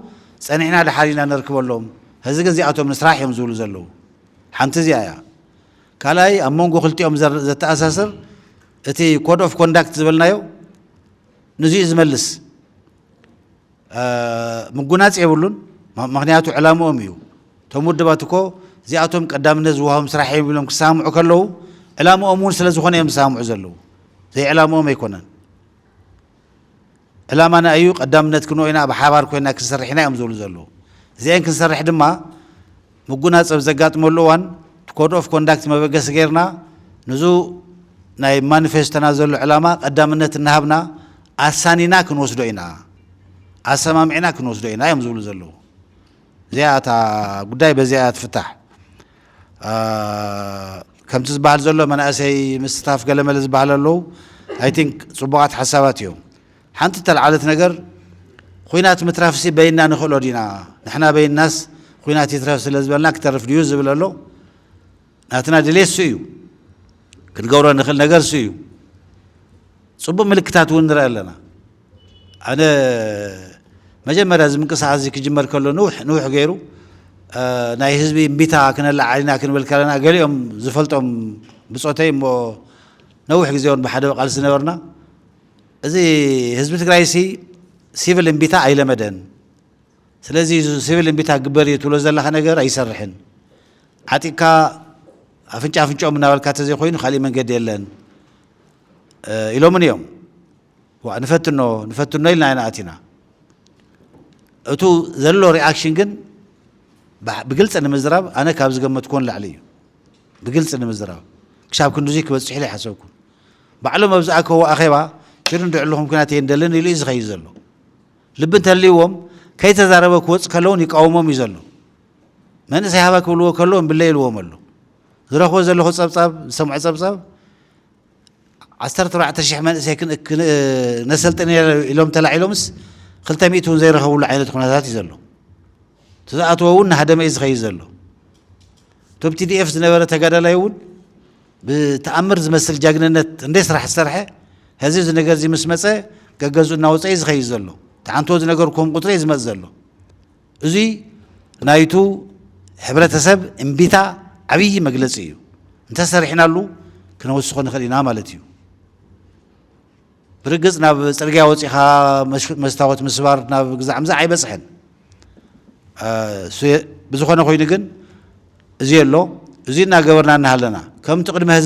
ፀኒሕና ደሓር ኢና ነርክበሎም። ሀዚ ግን እዚኣቶም ንስራሕ እዮም ዝብሉ ዘለዉ። ሓንቲ እዚኣ እያ። ካልኣይ ኣብ መንጎ ክልቲኦም ዘተኣሳስር እቲ ኮድ ኦፍ ኮንዳክት ዝበልናዮ ንዚኡ እዩ ዝመልስ። ምጉናጽ የብሉን መክንያቱ ዕላምኦም እዩ እቶም ውድባት እኮ እዚኣቶም ቀዳምነት ዝወሃቦም ስራሕ እዮም ኢሎም ክሰማምዑ ከለዉ ዕላምኦም እውን ስለ ዝኾነ እዮም ዝሰማምዑ ዘለዉ ዘይዕላምኦም ኣይኮነን ዕላማና እዩ ቀዳምነት ክንኦ ኢና ብሓባር ኮይና ክንሰርሕ ኢና እዮም ዝብሉ ዘለዉ እዚአን ክንሰርሕ ድማ ምጉናጽ ኣብ ዘጋጥመሉ እዋን ኮድ ኦፍ ኮንዳክት መበገሲ ገይርና ንዙ ናይ ማኒፌስቶና ዘሎ ዕላማ ቀዳምነት እናሃብና ኣሳኒና ክንወስዶ ኢና፣ ኣሰማሚዕና ክንወስዶ ኢና እዮም ዝብሉ ዘለዉ። እዚኣ እታ ጉዳይ በዚኣ እያ ትፍታሕ። ከምቲ ዝበሃል ዘሎ መናእሰይ ምስታፍ ገለመለ ዝበሃል ኣለዉ ኣይ ቲንክ ፅቡቓት ሓሳባት እዮም። ሓንቲ እተልዓለት ነገር ኹናት ምትራፍሲ በይንና ንኽእሎ ዲና? ንሕና በይንናስ ኹናት ይትረፍ ስለ ዝበልና ክተርፍ ድዩ ዝብል ኣሎ? ናትና ድሌት እሱ እዩ። ክንገብሮ እንኽእል ነገር እሱ እዩ። ፅቡቕ ምልክታት እውን ንርኢ ኣለና። ኣነ መጀመርያ እዚ ምንቅስቃስ እዚ ክጅመር ከሎ ንውሕ ንውሕ ገይሩ ናይ ህዝቢ እምቢታ ክነላዓል ኢና ክንብል ከለና ገሊኦም ዝፈልጦም ብፆተይ እሞ ነዊሕ ግዜ እውን ብሓደ ቃልሲ ነበርና እዚ ህዝቢ ትግራይ ሲ ሲቪል እምቢታ ኣይለመደን ስለዚ ሲቪል እምቢታ ግበር እዩ ትብሎ ዘለካ ነገር ኣይሰርሕን ዓጢቅካ ኣፍንጫ ኣፍንጫኦም እናበልካ ተዘይኮይኑ ካሊእ መንገዲ የለን ኢሎምን እዮም ዋ ንፈትኖ ንፈትኖ ኢልና ኢና ኣቲና እቱ ዘሎ ሪኣክሽን ግን ብግልፂ ንምዝራብ ኣነ ካብ ዝገመትኩዎን ላዕሊ እዩ ብግልፂ ንምዝራብ ክሳብ ክንዲዙይ ክበፅሕ ኢለ ይሓሰብኩ ባዕሎም ኣብ ዝኣከብዎ ኣኼባ ጭርንድዕልኹም ኩናት የንደልን ኢሉ እዩ ዝኸይድ ዘሎ። ልቢ እንተልይዎም ከይተዛረበ ክወጽእ ከሎውን ይቃወሞም እዩ ዘሎ። መንእሰይ ሃባ ክብልዎ ከለዉ እምብለይ ኢልዎም ኣሎ። ዝረኽቦ ዘለኹ ጸብጻብ ዝሰምዖ ጸብጻብ ዓሰርተ ኣርባዕተ ሽሕ መንእሰይ ነሰልጥን ኢሎም ተላዒሎምስ ክልተ ሚእቲ እውን ዘይረኸብሉ ዓይነት ኩነታት እዩ ዘሎ። እቲ ዝኣተዎ እውን ናሃደመ እዩ ዝኸይድ ዘሎ። እቶም ቲዲኤፍ ዝነበረ ተጋዳላይ እውን ብተኣምር ዝመስል ጃግንነት እንዴ ስራሕ ዝሰርሐ ሀዚ እዚ ነገር እዚ ምስ መፀ ገገዝኡ እናወፀ እዩ ዝኸይድ ዘሎ ትሓንትዎ ዝነገርኩም ቁፅሪ እዩ ዝመፅ ዘሎ እዙይ ናይቱ ሕብረተሰብ እምቢታ ዓብይ መግለፂ እዩ እንተሰሪሕናሉ ክነወስኾ ንኽእል ኢና ማለት እዩ። ብርግጽ ናብ ጽርግያ ወጺኻ መስታወት ምስባር ናብ ግዛዕ ምዛዕ ኣይበጽሕን። ብዝኾነ ኮይኑ ግን እዚ ኣሎ እዚ እናገበርና እናሃለና ከምቲ ቅድሚ ሀዚ